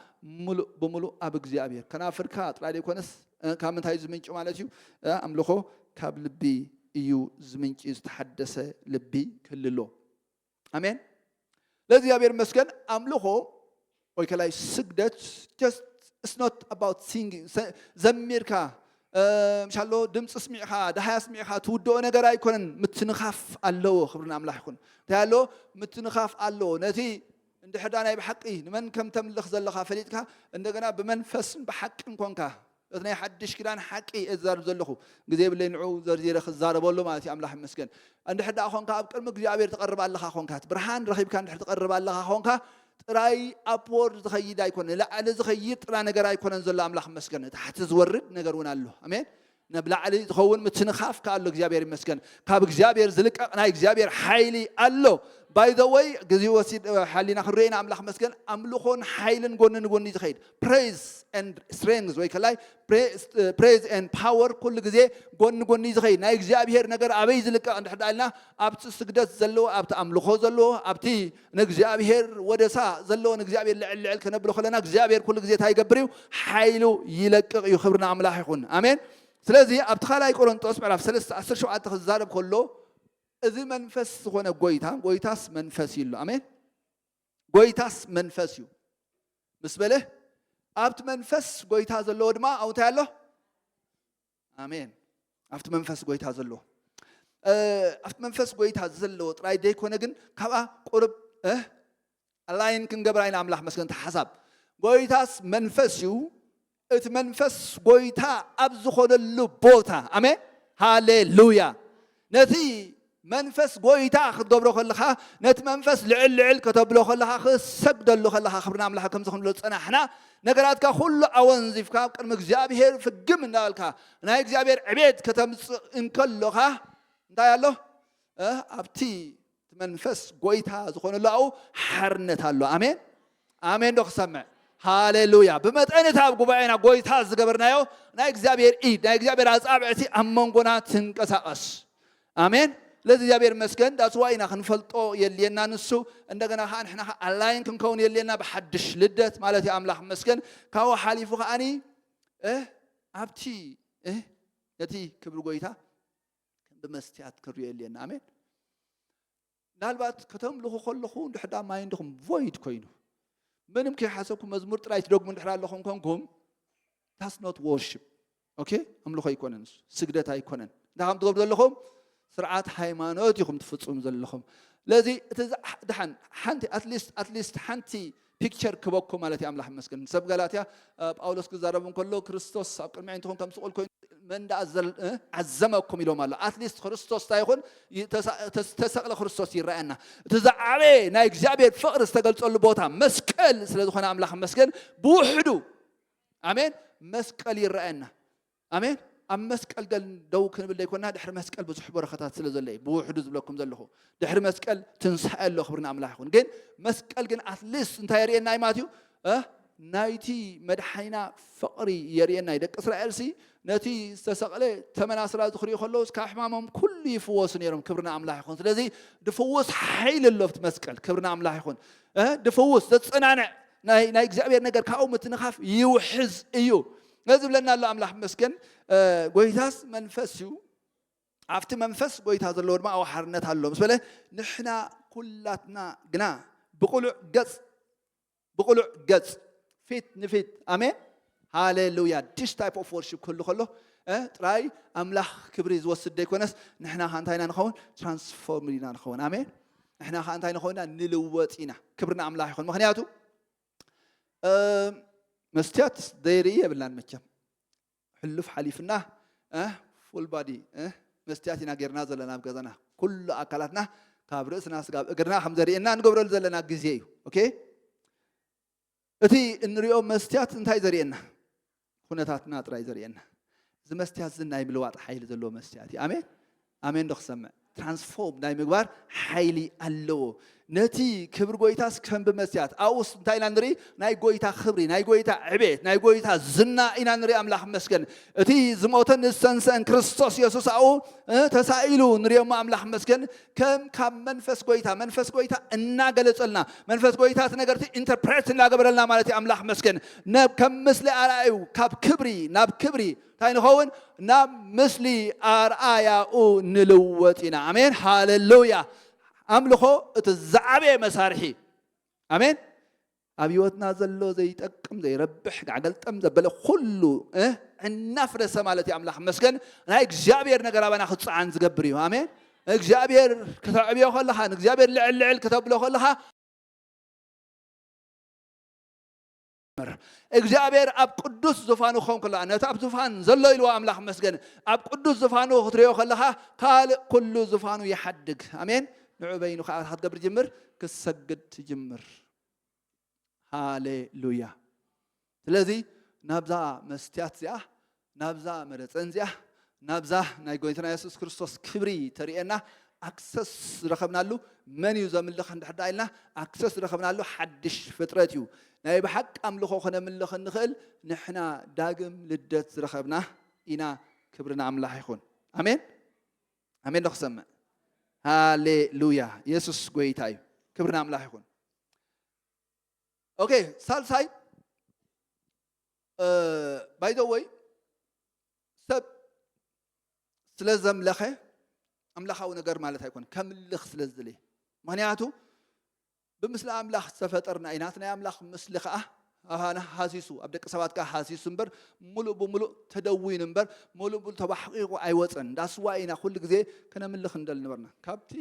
ምሉእ ብምሉእ ኣብ እግዚኣብሔር ከናፍርካ ጥራይ ዘይኮነስ እ ካብ ምንታይ እዩ ዝምንጩ ማለት እዩ እ ኣምልኾ ካብ ልቢ እዩ ዝምንጪ ዝተሓደሰ ልቢ ክህልሎ ኣሜን ለእግዚኣብሔር ይመስገን ኣምልኾ ወይ ከላይ ስግደት ጀስት ኢትስ ኖት ኣባውት ሲንጊንግ ዘሚርካ ምሻሎ ድምፂ ስሚዕኻ ደሃያ ስሚዕኻ ትውድኦ ነገር ኣይኮነን ምትንኻፍ ኣለዎ ክብሪ ንኣምላኽ ይኹን እንታይ ኣለዎ ምትንኻፍ ኣለዎ ነቲ እንድሕዳ ናይ ብሓቂ ንመን ከም ተምልኽ ዘለኻ ፈሊጥካ እንደገና ብመንፈስን ብሓቅን ኮንካ እቲ ናይ ሓድሽ ኪዳን ሓቂ እየ ዝዛረብ ዘለኹ ግዜ የብለይ ንዑ ዘርዚረ ክዛረበሉ ማለት እዩ ኣምላኽ ይመስገን እንድሕር ደኣ ኾንካ ኣብ ቅድሚ እግዚኣብሔር ትቐርብ ኣለኻ ኾንካ እቲ ብርሃን ረኺብካ እንድሕር ትቐርብ ኣለኻ ኾንካ ጥራይ ኣፕዎርድ ዝኸይድ ኣይኮነ ንላዕሊ ዝኸይድ ጥራ ነገር ኣይኮነን ዘሎ ኣምላኽ ይመስገን ንታሕቲ ዝወርድ ነገር እውን ኣሎ ኣሜን ናብ ላዕሊ ዝኸውን ምትንኻፍ ከ ኣሎ እግዚኣብሔር ይመስገን ካብ እግዚኣብሔር ዝልቀቕ ናይ እግዚኣብሔር ሓይሊ ኣሎ ባይ ዘ ወይ ግዜ ወሲድ ሓሊና ክንሪኦ ኢና ኣምላኽ መስገን ኣምልኾን ሓይልን ጎኒ ንጎኒ ዝኸይድ ፕሬዝ ኤንድ ስትሬንግዝ ወይ ከላይ ፕሬዝ ኤንድ ፓወር ኩሉ ግዜ ጎኒ ጎኒ እዩ ዝኸይድ ናይ እግዚኣብሄር ነገር ኣበይ ዝልቀቕ እንድሕር ዳ ኢልና ኣብቲ ስግደት ዘለዎ ኣብቲ ኣምልኾ ዘለዎ ኣብቲ ንእግዚኣብሄር ወደሳ ዘለዎ ንእግዚኣብሄር ልዕል ልዕል ከነብሎ ከለና እግዚኣብሄር ኩሉ ግዜ እንታይ ይገብር እዩ ሓይሉ ይለቅቕ እዩ ክብሪ ንኣምላኽ ይኹን ኣሜን ስለዚ ኣብቲ ካልኣይ ቆሮንጦስ ምዕራፍ 3 17 ክዛረብ ከሎ እዚ መንፈስ ዝኾነ ጎይታ ጎይታስ መንፈስ እዩ ኣሎ ኣሜን ጐይታስ መንፈስ እዩ ምስ በለ ኣብቲ መንፈስ ጐይታ ዘለዎ ድማ ኣብኡ እንታይ ኣሎ ኣሜን ኣብቲ መንፈስ ጐይታ ዘለዎ እ፣ ኣብቲ መንፈስ ጐይታ ዘለዎ ጥራይ ዘይኮነ ግን ካብኣ ቁርብ እ፣ ኣላይን ክንገብራ ኢና ኣምላኽ መስገን እቲ ሓሳብ ጐይታስ መንፈስ እዩ እቲ መንፈስ ጎይታ ኣብ ዝኾነሉ ቦታ ኣሜን ሃሌሉያ ነቲ መንፈስ ጎይታ ክትገብሮ ከለኻ ነቲ መንፈስ ልዕል ልዕል ከተብሎ ከለኻ ክሰግደሉ ከለኻ ክብርና ኣምላኽ ከምዚ ክንብሎ ዝጸናሕና ነገራትካ ኩሉ ኣወንዚፍካ ቅድሚ እግዚኣብሄር ፍግም እንዳበልካ ናይ እግዚኣብሄር ዕቤት ከተምጽእ እንከሎኻ እንታይ ኣሎ ኣብቲ እቲ መንፈስ ጎይታ ዝኾነሉ ኣብኡ ሓርነት ኣሎ ኣሜን ኣሜን ዶ ክሰምዕ ሃሌሉያ ብመጠን እቲ ኣብ ጉባኤና ጎይታ ዝገበርናዮ ናይ እግዚኣብሔር ኢድ ናይ እግዚኣብሔር ኣፃብዕቲ ኣብ መንጎና ትንቀሳቐስ ኣሜን ለዚ እግዚኣብሔር መስገን ዳስዋ ኢና ክንፈልጦ የልየና ንሱ እንደገና ከዓ ንሕና ከዓ ኣላይን ክንከውን የልየና ብሓድሽ ልደት ማለት እዩ ኣምላኽ መስገን ካብኡ ሓሊፉ ከዓኒ ኣብቲ ነቲ ክብሪ ጎይታ ከም ብመስትያት ክንሪኦ የድልየና ኣሜን ምናልባት ከተምልኹ ከለኹ ድሕዳ ማይ እንድኹም ቮይድ ኮይኑ ምንም ከይሓሰብኩ መዝሙር ጥራይ ትደግሙ እንድሕር ኣለኹም ኮንኩም ታስ ኖት ዎርሽፕ ኦኬ ኣምልኾ ኣይኮነን እሱ ስግደት ኣይኮነን እንታይ ከም ትገብሩ ዘለኹም ስርዓት ሃይማኖት ኢኹም ትፍፅሙ ዘለኹም ስለዚ እቲ ድሓን ሓንቲ ኣትሊስት ኣትሊስት ሓንቲ ፒክቸር ክበኩም ማለት እዩ ኣምላኽ ይመስገን ሰብ ጋላትያ ጳውሎስ ክዛረብ እንከሎ ክርስቶስ ኣብ ቅድሚ ዓይንትኹም ከም ስቑል ኮይኑ መን ደኣ ዓዘመኩም ኢሎም ኣሎ ኣትሊስት ክርስቶስ እንታይ ይኹን ተሰቕለ ክርስቶስ ይረኣየና እቲ ዝዓበየ ናይ እግዚኣብሔር ፍቕሪ ዝተገልጸሉ ቦታ መስቀል ስለ ዝኾነ ኣምላኽ መስገን ብውሕዱ ኣሜን መስቀል ይረኣየና ኣሜን ኣብ መስቀል ደል ደው ክንብል ደይኮና ድሕሪ መስቀል ብዙሕ በረኸታት ስለ ዘሎ እዩ ብውሕዱ ዝብለኩም ዘለኹ ድሕሪ መስቀል ትንሳኤ ኣሎ ክብሪ ንኣምላኽ ይኹን ግን መስቀል ግን ኣትሊስት እንታይ የርእየና እዩ ማለት እዩ ናይቲ መድሓኒና ፍቕሪ የርእየና ደቂ እስራኤል ሲ ነቲ ዝተሰቕለ ተመናስላ ዝኽሪኡ ከለዉ ካብ ሕማሞም ኩሉ ይፍወሱ ነይሮም ክብርና ኣምላኽ ይኹን ስለዚ ድፍውስ ሓይሊ ኣሎ ኣብቲ መስቀል ክብርና ኣምላኽ ይኹን ድፍውስ ዘፀናንዕ ናይ እግዚኣብሔር ነገር ካብኡ ምትንኻፍ ይውሕዝ እዩ ስለዚ ዝብለና ኣሎ ኣምላኽ ይመስገን ጎይታስ መንፈስ እዩ ኣብቲ መንፈስ ጎይታ ዘለዎ ድማ ኣብ ሓርነት ኣሎ ምስ በለ ንሕና ኩላትና ግና ብቁሉዕ ገጽ ብቁሉዕ ገጽ ፊት ንፊት ኣሜን ሃሌሉያ ዲስ ታይፕ ኦፍ ወርሽፕ ክህሉ ከሎ ጥራይ ኣምላኽ ክብሪ ዝወስድ ዘይኮነስ ንሕና ከዓ እንታይ ኢና ንኸውን ትራንስፎርም ኢና ንኸውን ኣሜን ንሕና ከዓ እንታይ ንኸውንና ንልወጥ ኢና ክብሪ ንኣምላኽ ይኹን ምክንያቱ መስትያት ዘይርኢ የብልናን መቸም ሕሉፍ ሓሊፍና ፉል ባዲ መስትያት ኢና ጌርና ዘለና ኣብ ገዛና ኩሉ ኣካላትና ካብ ርእስና ስጋብ እግርና ከም ዘርእየና ንገብረሉ ዘለና ግዜ እዩ ኦኬ እቲ እንሪኦ መስትያት እንታይ ዘርእየና ኩነታትና ጥራይ ዘርእየና እዚ መስትያት እዚ ናይ ምልዋጥ ሓይሊ ዘለዎ መስትያት እዩ ኣሜን ኣሜን ዶ ክሰምዕ ትራንስፎርም ናይ ምግባር ሓይሊ ኣለዎ ነቲ ክብሪ ጎይታስ ከም ብመስትያት ኣብኡስ እንታይ ኢና ንርኢ ናይ ጎይታ ክብሪ ናይ ጎይታ ዕቤት ናይ ጎይታ ዝና ኢና ንርኢ ኣምላኽ መስገን እቲ ዝሞተን ዝተንስአን ክርስቶስ የሱስ ኣብኡ ተሳኢሉ ንሪኦሞ ኣምላኽ መስገን ከም ካብ መንፈስ ጎይታ መንፈስ ጎይታ እናገለጸልና መንፈስ ጎይታ እቲ ነገርቲ ኢንተርፕሬት እናገበረልና ማለት እዩ ኣምላኽ መስገን ከም ምስሊ ኣርኣዩ ካብ ክብሪ ናብ ክብሪ እንታይ ንኸውን ናብ ምስሊ ኣርኣያኡ ንልወጥ ኢና ኣሜን ሃለሉያ ኣምልኾ እቲ ዝዓበየ መሳርሒ ኣሜን ኣብ ህይወትና ዘሎ ዘይጠቅም ዘይረብሕ ጋዕገልጠም ዘበለ ኩሉ እናፍረሰ ማለት እዩ ኣምላኽ መስገን ናይ እግዚኣብሔር ነገር ኣባና ክፀዓን ዝገብር እዩ ኣሜን እግዚኣብሔር ክተዕብዮ ከለኻ ንእግዚኣብሔር ልዕል ልዕል ክተብሎ ከለኻ እግዚኣብሔር ኣብ ቅዱስ ዝፋኑ ክኸውን ከለካ ነቲ ኣብ ዝፋን ዘሎ ኢልዎ ኣምላኽ መስገን ኣብ ቅዱስ ዝፋኑ ክትሪኦ ከለኻ ካልእ ኩሉ ዝፋኑ ይሓድግ ኣሜን ንዑ በይኑ ከዓ ክትገብር ጅምር ክሰግድ ትጅምር ሃሌሉያ ስለዚ ናብዛ መስትያት እዚኣ ናብዛ መረፀን እዚኣ ናብዛ ናይ ጎይትና የሱስ ክርስቶስ ክብሪ ተርእየና ኣክሰስ ዝረኸብናሉ መን እዩ ዘምልኽ እንድሕዳ ኢልና ኣክሰስ ዝረኸብናሉ ሓድሽ ፍጥረት እዩ ናይ ብሓቂ ኣምልኾ ክነምልኽ እንኽእል ንሕና ዳግም ልደት ዝረኸብና ኢና ክብሪ ንኣምላኽ ይኹን ኣሜን ኣሜን ዶ ክሰምዕ ሃሌሉያ የሱስ ጎይታ እዩ ክብሪ ንኣምላኽ ይኹን ኦኬ ሳልሳይ ባይዘወይ ሰብ ስለ ዘምለኸ ኣምላኻዊ ነገር ማለት ኣይኮነ ከምልኽ ስለ ዝደለየ ምክንያቱ ብምስሊ ኣምላኽ ዝተፈጠርና ኢና፣ እቲ ናይ ኣምላኽ ምስሊ ከኣ ኣባና ሃሲሱ፣ ኣብ ደቂ ሰባት ከኣ ሃሲሱ እምበር ምሉእ ብምሉእ ተደዊኑ እምበር ምሉእ ብምሉእ ተባሕቒቑ ኣይወጸን። እንዳ ስዋ ኢና ኩሉ ግዜ ከነምልኽ ንደሊ ነበርና። ካብቲ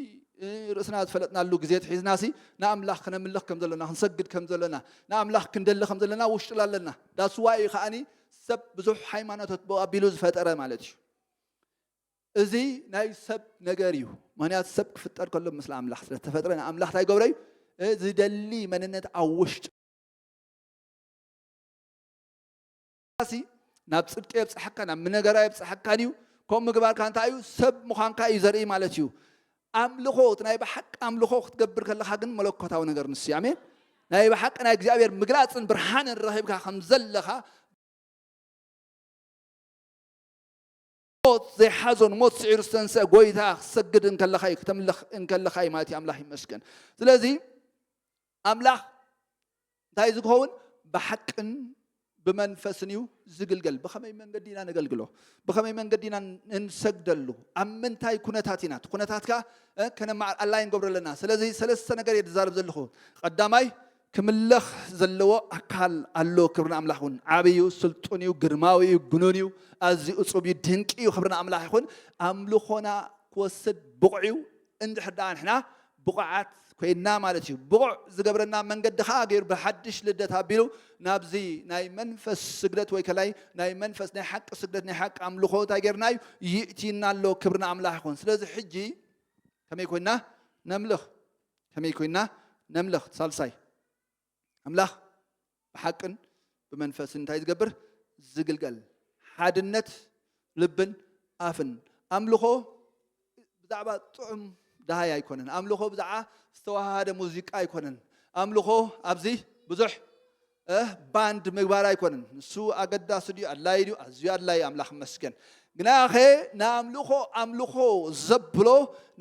ርእስና ዝፈለጥናሉ ግዜ ኣትሒዝናሲ ንኣምላኽ ከነምልኽ ከም ዘሎና፣ ክንሰግድ ከም ዘሎና፣ ንኣምላኽ ክንደሊ ከም ዘለና ውሽጥላ ኣለና። እንዳ ስዋ እዩ ከኣኒ ሰብ ብዙሕ ሃይማኖታት ብኡ ኣቢሉ ዝፈጠረ ማለት እዩ። እዚ ናይ ሰብ ነገር እዩ ምክንያቱ ሰብ ክፍጠር ከሎ ምስለ ኣምላኽ ስለተፈጥረ ንኣምላኽ እንታይ ገብረ እዩ ዝደሊ መንነት ኣብ ውሽጡ ናብ ፅድቂ የብፅሐካ ናብ ምነገራ የብፅሐካን እዩ ከምኡ ምግባርካ እንታይ እዩ ሰብ ምዃንካ እዩ ዘርኢ ማለት እዩ ኣምልኾ እቲ ናይ ብሓቂ ኣምልኾ ክትገብር ከለኻ ግን መለኮታዊ ነገር ንሱ እዩ ኣሜን ናይ ብሓቂ ናይ እግዚኣብሔር ምግላፅን ብርሃንን ረኺብካ ከም ዘለኻ ሞት ዘይሓዞን ሞት ስዒሩ ዝተንስአ ጎይታ ክትሰግድ እንከለኻ እዩ ክተምልኽ እንከለኻ እዩ ማለት እዩ ኣምላኽ ይመስገን ስለዚ ኣምላኽ እንታይ ዝኸውን ብሓቅን ብመንፈስን እዩ ዝግልገል ብኸመይ መንገዲ ኢና ነገልግሎ ብኸመይ መንገዲ ኢና እንሰግደሉ ኣብ ምንታይ ኩነታት ኢና እቲ ኩነታት ከዓ ከነማዓል ኣላይ ንገብሮ ኣለና ስለዚ ሰለስተ ነገር እየ ዝዛረብ ዘለኹ ቀዳማይ ክምለኽ ዘለዎ ኣካል ኣሎ ክብሪ ንኣምላኽ ይኹን ዓቢ እዩ ስልጡን እዩ ግርማዊ እዩ ግኑን እዩ ኣዝዩ እጹብ እዩ ድንቂ እዩ ክብሪ ንኣምላኽ ይኹን ኣምልኾና ክወስድ ብቑዕ እዩ እንድሕር ደኣ ንሕና ብቑዓት ኮይና ማለት እዩ ብቑዕ ዝገብረና መንገዲ ከዓ ገይሩ ብሓድሽ ልደት ኣቢሉ ናብዚ ናይ መንፈስ ስግደት ወይ ከላይ ናይ መንፈስ ናይ ሓቂ ስግደት ናይ ሓቂ ኣምልኾ እንታይ ገይርና እዩ ይእቲና ኣሎ ክብሪ ንኣምላኽ ይኹን ስለዚ ሕጂ ከመይ ኮይና ነምልኽ ከመይ ኮይንና ነምልኽ? ሳልሳይ፣ ኣምላኽ ብሓቅን ብመንፈስን እንታይ ዝገብር? ዝግልገል። ሓድነት ልብን ኣፍን። ኣምልኾ ብዛዕባ ጥዑም ደሃይ ኣይኮነን። ኣምልኾ ብዛዕባ ዝተዋሃደ ሙዚቃ ኣይኮነን። ኣምልኾ ኣብዚ ብዙሕ እህ ባንድ ምግባር ኣይኮነን ንሱ ኣገዳሲ ድዩ ኣድላይ ድዩ ኣዝዩ ኣድላይ እዩ ኣምላኽ ይመስገን ግናኸ ንኣምልኾ ኣምልኾ ዘብሎ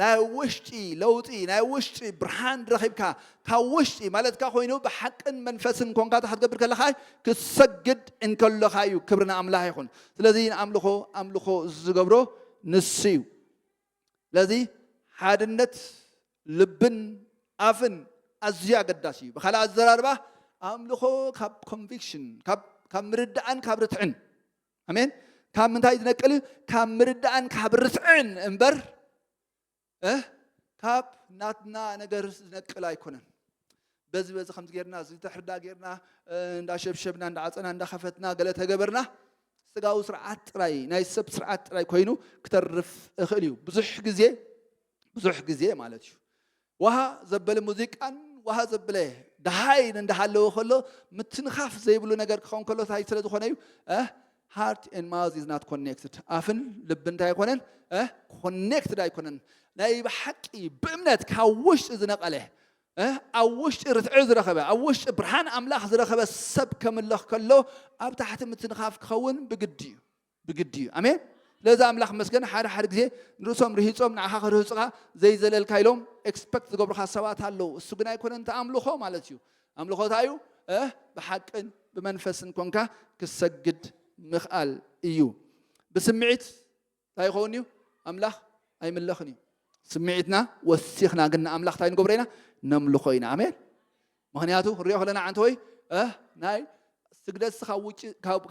ናይ ውሽጢ ለውጢ ናይ ውሽጢ ብርሃን ረኺብካ ካብ ውሽጢ ማለትካ ኮይኑ ብሓቅን መንፈስን ኮንካ እንታይ ክትገብር ከለኻ ክትሰግድ እንከለኻ እዩ ክብሪ ንኣምላኽ ይኹን ስለዚ ንኣምልኾ ኣምልኾ ዝገብሮ ንሱ እዩ ስለዚ ሓድነት ልብን ኣፍን ኣዝዩ ኣገዳሲ እዩ። ብኻልእ ኣዘራርባ ኣምልኾ ካብ ኮንቪክሽን ካብ ምርዳእን ካብ ርትዕን ኣሜን ካብ ምንታይ ዝነቅል እዩ ካብ ምርዳእን ካብ ርትዕን እምበር ካብ ናትና ነገር ዝነቅል ኣይኮነን። በዚ በዚ ከምዚ ጌርና እዚ ተሕርዳ ጌርና እንዳሸብሸብና እንዳዓፀና እንዳኸፈትና ገለ ተገበርና ስጋዊ ስርዓት ጥራይ ናይ ሰብ ስርዓት ጥራይ ኮይኑ ክተርፍ እኽእል እዩ ብዙሕ ግዜ ብዙሕ ግዜ ማለት እዩ ውሃ ዘበለ ሙዚቃን ውሃ ዘብለ ደሃይን እንዳሃለወ ከሎ ምትንኻፍ ዘይብሉ ነገር ክኸውን ከሎ እንታይ ስለ ዝኾነ እዩ Heart and mouth is not connected ኣፍን ልብን እንታይ ኣይኮነን እ ኮኔክትድ ኣይኮነን ናይ ብሓቂ ብእምነት ካብ ውሽጢ ዝነቐለ እ ኣብ ውሽጢ ርትዒ ዝረኸበ ኣብ ውሽጢ ብርሃን ኣምላኽ ዝረኸበ ሰብ ከምለኽ ከሎ ኣብ ታሕቲ ምትንኻፍ ክኸውን ብግዲ እዩ ብግዲ እዩ ኣሜን ስለዚ ኣምላኽ መስገን ሓደ ሓደ ግዜ ንርእሶም ርሂፆም ንዓኻ ክርህፁኻ ዘይዘለልካ ኢሎም ኤክስፐክት ዝገብሩኻ ሰባት ኣለዉ እሱ ግን ኣይኮነን ተኣምልኾ ማለት እዩ ኣምልኾ ታይ እዩ? ብሓቅን ብመንፈስን ኮንካ ክትሰግድ ምኽኣል እዩ። ብስምዒት ታይ ይኸውን እዩ? ኣምላኽ ኣይምለኽን እዩ። ስምዒትና ወሲኽና ግን ንኣምላኽ ታይ ንገብሮ ኢና? ነምልኾ ኢና። ኣሜን። ምኽንያቱ ክንሪኦ ከለና ዓንተወይ ናይ ስግደትሲ ካብ ውጭ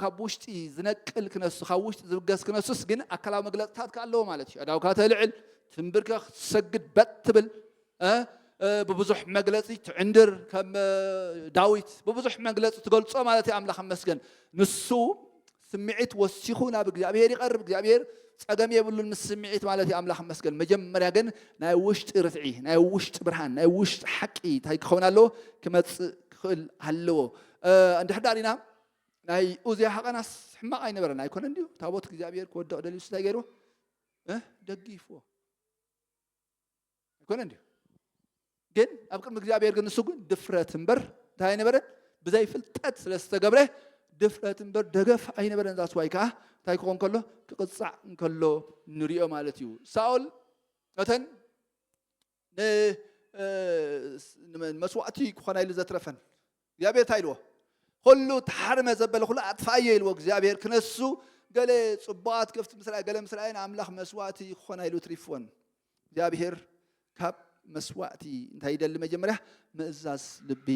ካብ ውሽጢ ዝነቅል ክነሱ ካብ ውሽጢ ዝብገስ ክነሱስ ግን ኣካላዊ መግለፅታት ከ ኣለዎ ማለት እዩ ኣዳውካ ተልዕል ትንብርከኽ ትሰግድ በጥ ትብል ብብዙሕ መግለፂ ትዕንድር ከም ዳዊት ብብዙሕ መግለፂ ትገልፆ ማለት እዩ ኣምላኽ መስገን ንሱ ስምዒት ወሲኹ ናብ እግዚኣብሄር ይቐርብ እግዚኣብሄር ጸገም የብሉን ምስ ስምዒት ማለት እዩ ኣምላኽ መስገን መጀመርያ ግን ናይ ውሽጢ ርትዒ ናይ ውሽጢ ብርሃን ናይ ውሽጢ ሓቂ እንታይ ክኸውን ኣለዎ ክመጽእ ክኽእል ኣለዎ እንድሕር ዳር ኢና ናይ ኡዝያ ሃቐናስ ሕማቕ ኣይነበረን ኣይኮነን ድዩ ታቦት እግዚኣብሄር ክወድቕ ደልዩ እንታይ ገይርዎ ደጊፍዎ ኣይኮነ እንዲዩ ግን ኣብ ቅድሚ እግዚኣብሔር ግን ንሱ ግን ድፍረት እምበር እንታይ ኣይነበረን ብዘይ ፍልጠት ስለ ዝተገብረ ድፍረት እምበር ደገፍ ኣይነበረን ዛስዋይ ከዓ እንታይ ክኾን ከሎ ክቕፃዕ እንከሎ ንሪኦ ማለት እዩ ሳኦል ነተን መስዋእቲ ክኾና ኢሉ ዘትረፈን እግዚኣብሔር እንታይ ኢልዎ ኹሉ ተሓርመ ዘበለ ኹሉ ኣጥፍኣዮ ኢልዎ እግዚኣብሔር ክነሱ ገለ ጽቡቓት ከፍቲ ምስራይ ገለ ምስራይን ኣምላኽ መስዋእቲ ክኾና ኢሉ ትሪፍወን እግዚኣብሔር ካብ መስዋእቲ እንታይ ይደሊ መጀመርያ ምእዛዝ ልቢ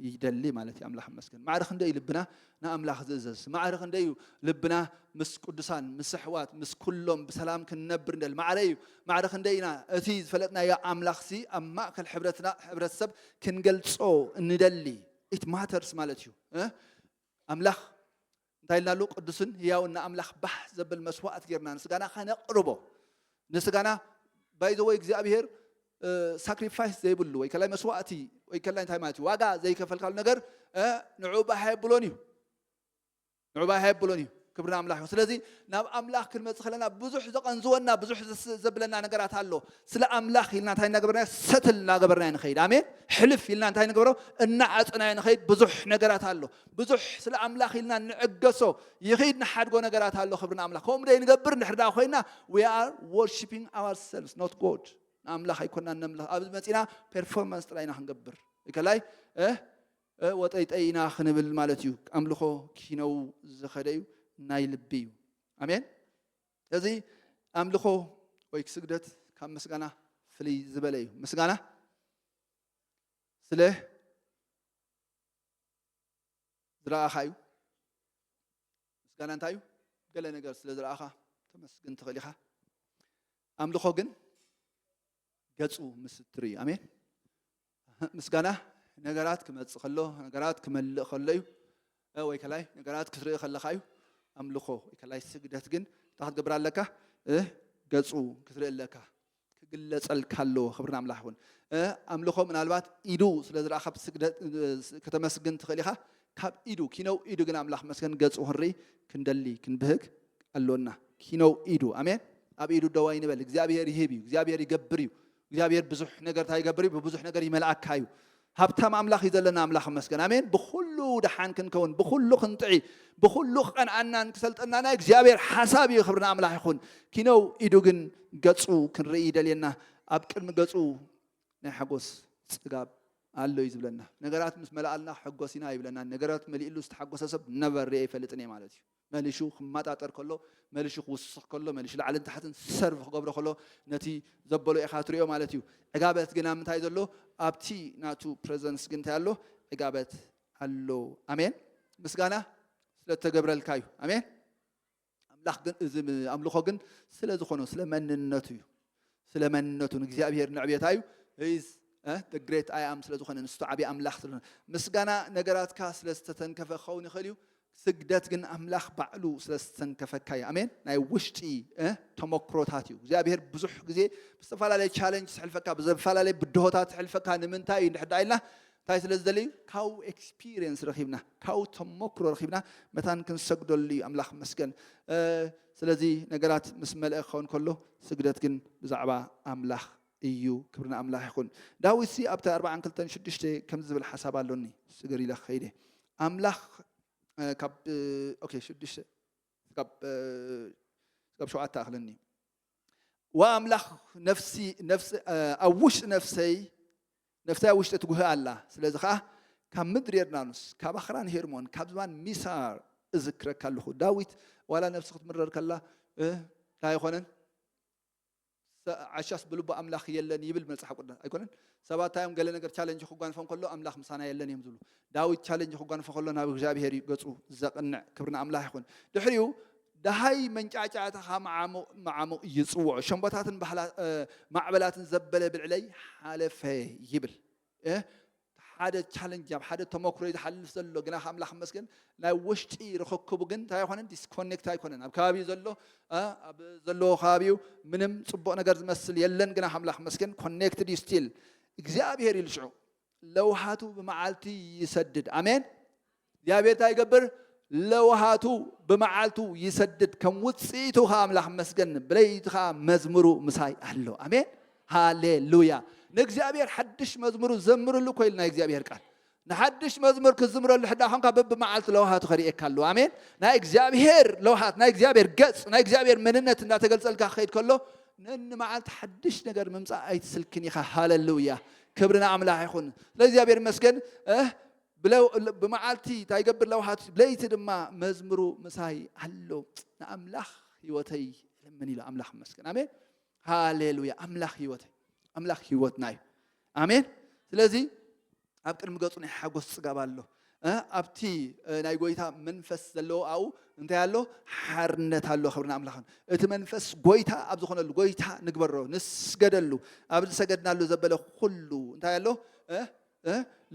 ይደሊ ማለት እዩ ኣምላኽ መስገን ማዕረ ክንደይ እዩ ልብና ንኣምላኽ ዝእዘዝ ማዕረ ክንደይ እዩ ልብና ምስ ቅዱሳን ምስ ኣሕዋት ምስ ኩሎም ብሰላም ክንነብር ንደሊ ማዕረ እዩ ማዕረ ክንደይ ኢና እቲ ዝፈለጥናዮ ኣምላኽሲ ኣብ ማእከል ሕብረትና ሕብረተሰብ ክንገልጾ እንደሊ it matters ማለት እዩ እ ኣምላኽ እንታይ ኢልና ኣሉ ቅዱስን ህያውን ንኣምላኽ ባህ ዘብል መስዋእት ጌርና ንስጋና ከነቕርቦ ንስጋና ባይዘወይ እግዚኣብሄር ሳክሪፋይስ ዘይብሉ ወይ ከላይ መስዋእቲ ወይ ከላይ እንታይ ማለት እዩ ዋጋ ዘይከፈልካሉ ነገር ንዑ ባህ የብሎን እዩ ንዑ ባህ ኣየብሎን እዩ ክብሪ ንኣምላኽ ይኹን ስለዚ ናብ ኣምላኽ ክንመጽእ ከለና ብዙሕ ዘቐንዝወና ብዙሕ ዘስ- ዘብለና ነገራት ኣሎ ስለ ኣምላኽ ኢልና እንታይ እናገበርና ሰትል እናገበርና ኢና ንኸይድ ኣሜን ሕልፍ ኢልና እንታይ ንገብሮ እናዓጽና ኢና ንኸይድ ብዙሕ ነገራት ኣሎ ብዙሕ ስለ ኣምላኽ ኢልና ንዕገሶ ይኽድ ንሓድጎ ነገራት ኣሎ ክብሪ ንኣምላኽ ከምኡ ደይ ንገብር እንድሕር ደኣ ኮይና we are worshiping ourselves not God ንኣምላኽ ኣይኮናን ነምልኽ ኣብዚ መጺና ፐርፎርማንስ ጥራይ ኢና ክንገብር ከላይ እ ወጠይጠይ ኢና ክንብል ማለት እዩ ኣምልኾ ኪነው ዝኸደ እዩ ናይ ልቢ እዩ ኣሜን እዚ ኣምልኾ ወይ ክስግደት ካብ ምስጋና ፍልይ ዝበለ እዩ ምስጋና ስለ ዝረኣኻ እዩ ምስጋና እንታይ እዩ ገለ ነገር ስለ ዝረኣኻ ተመስግን ትኽእል ኢኻ ኣምልኾ ግን ገፁ ምስትር እዩ ኣሜን ምስጋና ነገራት ክመጽእ ከሎ ነገራት ክመልእ ከሎ እዩ ወይ ከላይ ነገራት ክትርኢ ከለካ እዩ ኣምልኮ ከላይ ስግደት ግን እንታይ ክትገብር ኣለካ ገጹ ክትርኢ ኣለካ ክግለጸልካ ኣለዎ ክብሪ ኣምላኽ ይኹን ኣምልኮ ምናልባት ኢዱ ስለ ዝረኣ ካብ ስግደት ከተመስግን ትኽእል ኢኻ ካብ ኢዱ ኪነው ኢዱ ግን ኣምላኽ መስገን ገጹ ክንርኢ ክንደሊ ክንብህግ ኣሎና ኪነው ኢዱ ኣሜን ኣብ ኢዱ ደዋይ ንበል እግዚኣብሔር ይህብ እዩ እግዚኣብሔር ይገብር እዩ እግዚኣብሔር ብዙሕ ነገር እንታይ ይገብር እዩ? ብብዙሕ ነገር ይመልኣካ እዩ። ሃብታም ኣምላኽ እዩ ዘለና ኣምላኽ ይመስገን ኣሜን። ብኹሉ ደሓን ክንከውን፣ ብኹሉ ክንጥዒ፣ ብኹሉ ክቐንኣናን ክሰልጠና ናይ እግዚኣብሔር ሓሳብ እዩ። ክብሪ ንኣምላኽ ይኹን። ኪነው ኢዱ ግን ገጹ ክንርኢ ይደልየና። ኣብ ቅድሚ ገጹ ናይ ሓጎስ ጽጋብ ኣሎ እዩ ዝብለና። ነገራት ምስ መላኣልና ሕጎስ ኢና ይብለና። ነገራት መሊእሉ ዝተሓጎሰ ሰብ ነበር ርኤ ይፈልጥን እየ ማለት እዩ። መሊሹ ክማጣጠር ከሎ መሊሹ ክውስኽ ከሎ መሊሹ ላዕልን ታሕትን ሰርቭ ክገብሮ ከሎ ነቲ ዘበሎ ኢኻ ትሪኦ ማለት እዩ ዕጋበት ግን ኣብ ምንታይ ዘሎ ኣብቲ ናቱ ፕረዘንስ ግን እንታይ ኣሎ ዕጋበት ኣሎ ኣሜን ምስጋና ስለ እተገብረልካ እዩ ኣሜን ኣምላኽ ግን እዚ ኣምልኾ ግን ስለ ዝኾነ ስለ መንነቱ እዩ ስለ መንነቱ ንእግዚኣብሄር ንዕቤት ኣዩ He is the great I am ስለ ዝኾነ ንሱ ዓቢ ኣምላኽ ስለ ዝኾነ ምስጋና ነገራትካ ስለ ዝተተንከፈ ክኸውን ይኽእል እዩ ስግደት ግን ኣምላኽ ባዕሉ ስለ ዝተንከፈካ እዩ ኣሜን ናይ ውሽጢ ተመክሮታት እዩ እግዚኣብሄር ብዙሕ ግዜ ብዝተፈላለየ ቻለንጅ ዝሕልፈካ ብዝፈላለየ ብድሆታት ዝሕልፈካ ንምንታይ እዩ እንድሕዳ ኢልና እንታይ ስለ ዝደሊ እዩ ካብኡ ኤክስፒሪየንስ ረኺብና ካብኡ ተመክሮ ረኺብና መታን ክንሰግደሉ እዩ ኣምላኽ መስገን ስለዚ ነገራት ምስ መልኣ ክኸውን ከሎ ስግደት ግን ብዛዕባ ኣምላኽ እዩ ክብሪ ንኣምላኽ ይኹን። ዳዊትሲ ኣብቲ ኣርብዓን ክልተን ሽዱሽተ ከምዚ ዝብል ሓሳብ ኣሎኒ ስገር ኢለ ክኸይድ እየ ኣምላኽ ካብ ኦኬ ሽዱሽተ ስጋብ ስጋብ ሸውዓተ ኣክለኒ ዋእ ኣምላኽ ነፍሲ ነፍሲ ኣብ ውሽጢ ነፍሰይ ነፍሰይ ኣብ ውሽጢ ትጉህ ኣላ ስለዚ ከኣ ካብ ምድሪ የርዳኑስ ካብ ኣኽራን ሄርሞን ካብ ዝባን ሚሳር እዝክረካ ኣለኹ ዳዊት ዋላ ነፍሲ ክትምረር ከላ እንታይ ኣይኮነን ዓሻስ ብልቡ ኣምላኽ የለን ይብል መጽሓፍ ቅዱስ ኣይኮነን ሰባት እንታይ እዮም ገለ ነገር ቻለንጅ ክጓንፎም ከሎ ኣምላኽ ምሳና የለን እዮም ዝብሉ። ዳዊት ቻለንጅ ክጓንፎ ከሎ ናብ እግዚኣብሄር እዩ ገጹ ዘቕንዕ። ክብሪ ንኣምላኽ ይኹን። ድሕሪኡ ደሃይ መንጫዕጫዕታኻ መዓሙቕ መዓሙቕ ይጽውዖ፣ ሸምቦታትን ባህላ እ፣ ማዕበላትን ዘበለ ብልዕለይ ሓለፈ ይብል። እ፣ ሓደ ቻለንጅ ኣብ ሓደ ተመክሮ እዩ ዝሓልፍ ዘሎ፣ ግናኸ ኣምላኽ ይመስገን ናይ ወሽጢ ርኽክቡ ግን እንታይ ኣይኾነን ዲስኮኔክት ኣይኮነን ኣብ ከባቢኡ ዘሎ ኣብ ዘለዎ ከባቢኡ ምንም ፅቡቕ ነገር ዝመስል የለን ግና ኣምላኽ መስገን ኮኔክትድ እዩ ስቲል እግዚኣብሄር ኢሉ ሽዑ ለውሃቱ ብመዓልቲ ይሰድድ ኣሜን እግዚኣብሄር እንታይ ይገብር ለውሃቱ ብመዓልቱ ይሰድድ ከም ውፅኢቱ ከዓ ኣምላኽ መስገን ብለይቲ ከዓ መዝሙሩ ምሳይ ኣሎ ኣሜን ሃሌሉያ ንእግዚኣብሔር ሓድሽ መዝሙሩ ዘምርሉ ኮይል ናይ እግዚኣብሔር ቃል ንሓድሽ መዝሙር ክትዝምረሉ ሕዳእ ኾንካ በብመዓልቱ ለውሃቱ ከርእየካ ኣለዎ ኣሜን ናይ እግዚኣብሄር ለውሃት ናይ እግዚኣብሄር ገጽ ናይ እግዚኣብሄር መንነት እንዳተገልጸልካ ክኸይድ ከሎ ንንመዓልቲ ሓድሽ ነገር ምምጻእ ኣይትስልክን ኢኻ ሃለሉያ ክብሪ ንኣምላኽ ይኹን ስለ እግዚኣብሄር መስገን ብመዓልቲ እንታይ ይገብር ለውሃቱ ብለይቲ ድማ መዝምሩ ምሳይ ኣሎ ንኣምላኽ ህይወተይ እልምን ኢሉ ኣምላኽ መስገን ኣሜን ሃሌሉያ ኣምላኽ ህይወት ኣምላኽ ህይወትና እዩ ኣሜን ስለዚ ኣብ ቅድሚ ገጹ ናይ ሓጎስ ጽጋብ ኣሎ ኣብቲ ናይ ጎይታ መንፈስ ዘለዎ ኣብኡ እንታይ ኣሎ ሓርነት ኣሎ ክብርና ኣምላኽን እቲ መንፈስ ጎይታ ኣብ ዝኾነሉ ጎይታ ንግበሮ ንስገደሉ ኣብ ዝሰገድናሉ ዘበለ ኩሉ እንታይ ኣሎ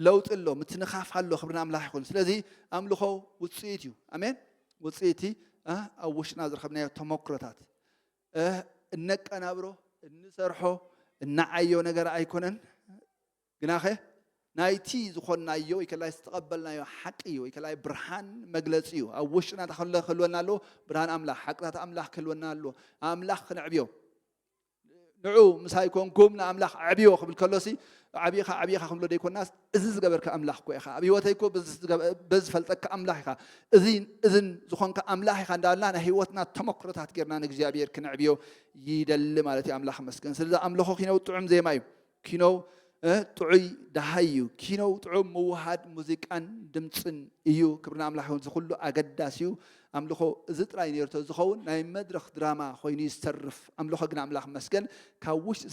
ለውጢ ኣሎ ምትንኻፍ ኣሎ ክብርና ኣምላኽ ይኹን ስለዚ ኣምልኾ ውፅኢት እዩ ኣሜን ውፅኢቲ ኣብ ውሽጥና ዝረኸብናዮ ተመክሮታት እነቀናብሮ እንሰርሖ እንዓዮ ነገር ኣይኮነን ግናኸ ናይቲ ዝኾንናዮ ወይ ከላይ ዝተቐበልናዮ ሓቂ እዩ ወይ ከላይ ብርሃን መግለፂ እዩ ኣብ ውሽጥና ተኸለ ክህልወና ኣለዎ ብርሃን ኣምላኽ ሓቅታት ኣምላኽ ክህልወና ኣለዎ ኣምላኽ ክንዕብዮ ንዑ ምሳይ ኮንኩም ንኣምላኽ ዕብዮ ክብል ከሎሲ ዓብኻ ዓብኻ ክንብሎ ዘይኮናስ እዚ ዝገበርካ ኣምላኽ እኮ ኢኻ ኣብ ህይወተይ እኮ በዚ ዝፈልጠካ ኣምላኽ ኢኻ እዚን እዝን ዝኾንካ ኣምላኽ ኢኻ እንዳበልና ናይ ህይወትና ተመክሮታት ጌርና ንእግዚኣብሔር ክነዕብዮ ይደሊ ማለት እዩ ኣምላኽ መስገን ስለዚ ኣምልኾ ኪነው ጥዑም ዜማ እዩ ኪነው ጥዑይ ደሃይ እዩ ኪነው ጥዑም ምውሃድ ሙዚቃን ድምፅን እዩ ክብርና ኣምላኽ ይኹን ዝኩሉ ኣገዳሲ እዩ ኣምልኾ እዚ ጥራይ ነይሩ ተዝኸውን ናይ መድረኽ ድራማ ኮይኑ እዩ ዝተርፍ። ኣምልኾ ግን ኣምላኽ ይመስገን ካብ ውሽጢ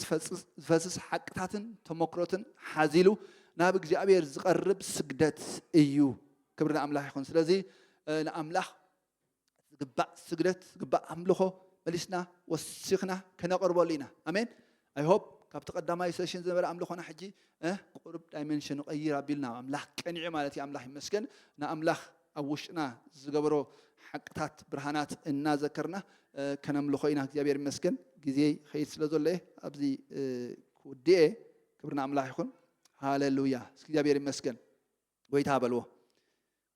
ዝፈስስ ሓቅታትን ተሞክሮትን ሓዚሉ ናብ እግዚኣብሔር ዝቐርብ ስግደት እዩ። ክብሪ ንኣምላኽ ይኹን። ስለዚ ንኣምላኽ ዝግባእ ስግደት ዝግባእ ኣምልኾ መሊስና ወሲኽና ከነቕርበሉ ኢና። ኣሜን። I hope ካብቲ ቀዳማይ ሰሽን ዝነበረ ኣምልኾና ሕጂ ቁሩብ ዳይመንሽኑ ቀይር ኣቢሉ ናብ ኣምላኽ ቀኒዑ ማለት እዩ ኣምላኽ ይመስገን ንኣምላኽ ኣብ ውሽጥና ዝገበሮ ሓቅታት ብርሃናት እናዘከርና ከነምልኾ ኢና እግዚኣብሔር ይመስገን ግዜ ኸይድ ስለ ዘሎ እየ ኣብዚ ክውድእ እየ ክብሪ ንኣምላኽ ይኹን ሃለሉያ እስኪ እግዚኣብሔር ይመስገን ጎይታ በልዎ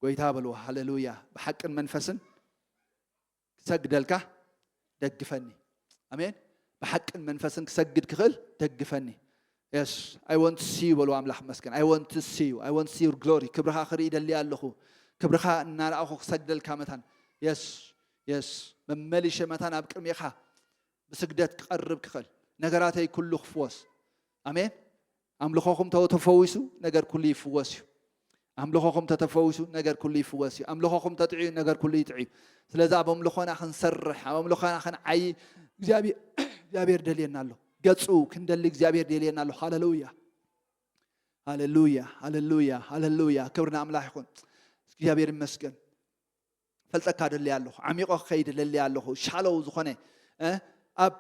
ጎይታ በልዎ ሃለሉያ ብሓቅን መንፈስን ክሰግደልካ ደግፈኒ ኣሜን ብሓቅን መንፈስን ክሰግድ ክኽእል ደግፈኒ የስ ኣይ ወንት ሲዩ በሉ ኣምላኽ መስገን ኣይ ወንት ሲዩ ኣይ ወንት ሲዩ ግሎሪ ክብርኻ ክርኢ ደልየ ኣለኹ ክብርኻ እናረኣኹ ክሰግደልካ መታን የስ የስ መመሊሸ መታን ኣብ ቅድሜኻ ብስግደት ክቐርብ ክኽእል ነገራተይ ኩሉ ክፍወስ ኣሜን ኣምልኾኹም ተተፈዊሱ ነገር ኩሉ ይፍወስ እዩ። ኣምልኾኹም ተተፈዊሱ ነገር ኩሉ ይፍወስ እዩ። ኣምልኾኹም ተጥዕዩ ነገር ኩሉ ይጥዕዩ። ስለዚ ኣብ ኣምልኾና ክንሰርሕ ኣብ ኣምልኾና ክንዓይ እግዚኣብሔር ደልየና ኣሎ። ገፁ ክንደሊ እግዚኣብሔር ደልየና ኣሎ። ሃለሉያ ሃለሉያ ሃለሉያ ሃለሉያ ክብሪ ንኣምላኽ ይኹን። እግዚኣብሔር ይመስገን። ፈልጠካ ደልያ ኣለኹ ዓሚቆ ክኸይድ ደልያ ኣለኹ ሻለው ዝኾነ ኣብ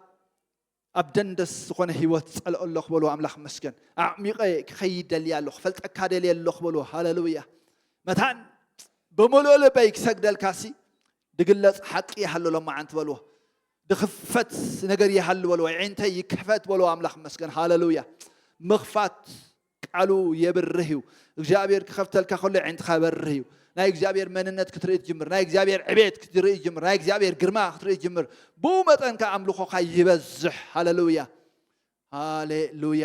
ኣብ ደንደስ ዝኾነ ህይወት ጸልኦ ኣሎ ክበልዎ ኣምላኽ ይመስገን ኣዕሚቐ ክኸይድ ደልየ ኣሎ ክፈልጠካ ደልየ ኣሎ ክበልዎ ሃለሉያ መታን ብምሉእ ልበይ ክሰግደልካ ሲ ድግለጽ ሓቂ ይሃሉ ሎማዓንቲ በልዎ ድኽፈት ነገር ይሃሉ በልዎ ዒንተይ ይክሕፈት በልዎ ኣምላኽ ይመስገን ሃለሉያ ምኽፋት ቃሉ የብርህ እዩ እግዚኣብሔር ክከፍተልካ ከሎ የዒንትካ የበርህ እዩ ናይ እግዚኣብሔር መንነት ክትርኢ ትጅምር ናይ እግዚኣብሔር ዕቤት ክትርኢ ትጅምር ናይ እግዚኣብሔር ግርማ ክትርኢ ትጅምር ብኡ መጠን ከ ኣምልኾካ ይበዝሕ ሃለሉያ ሃሌሉያ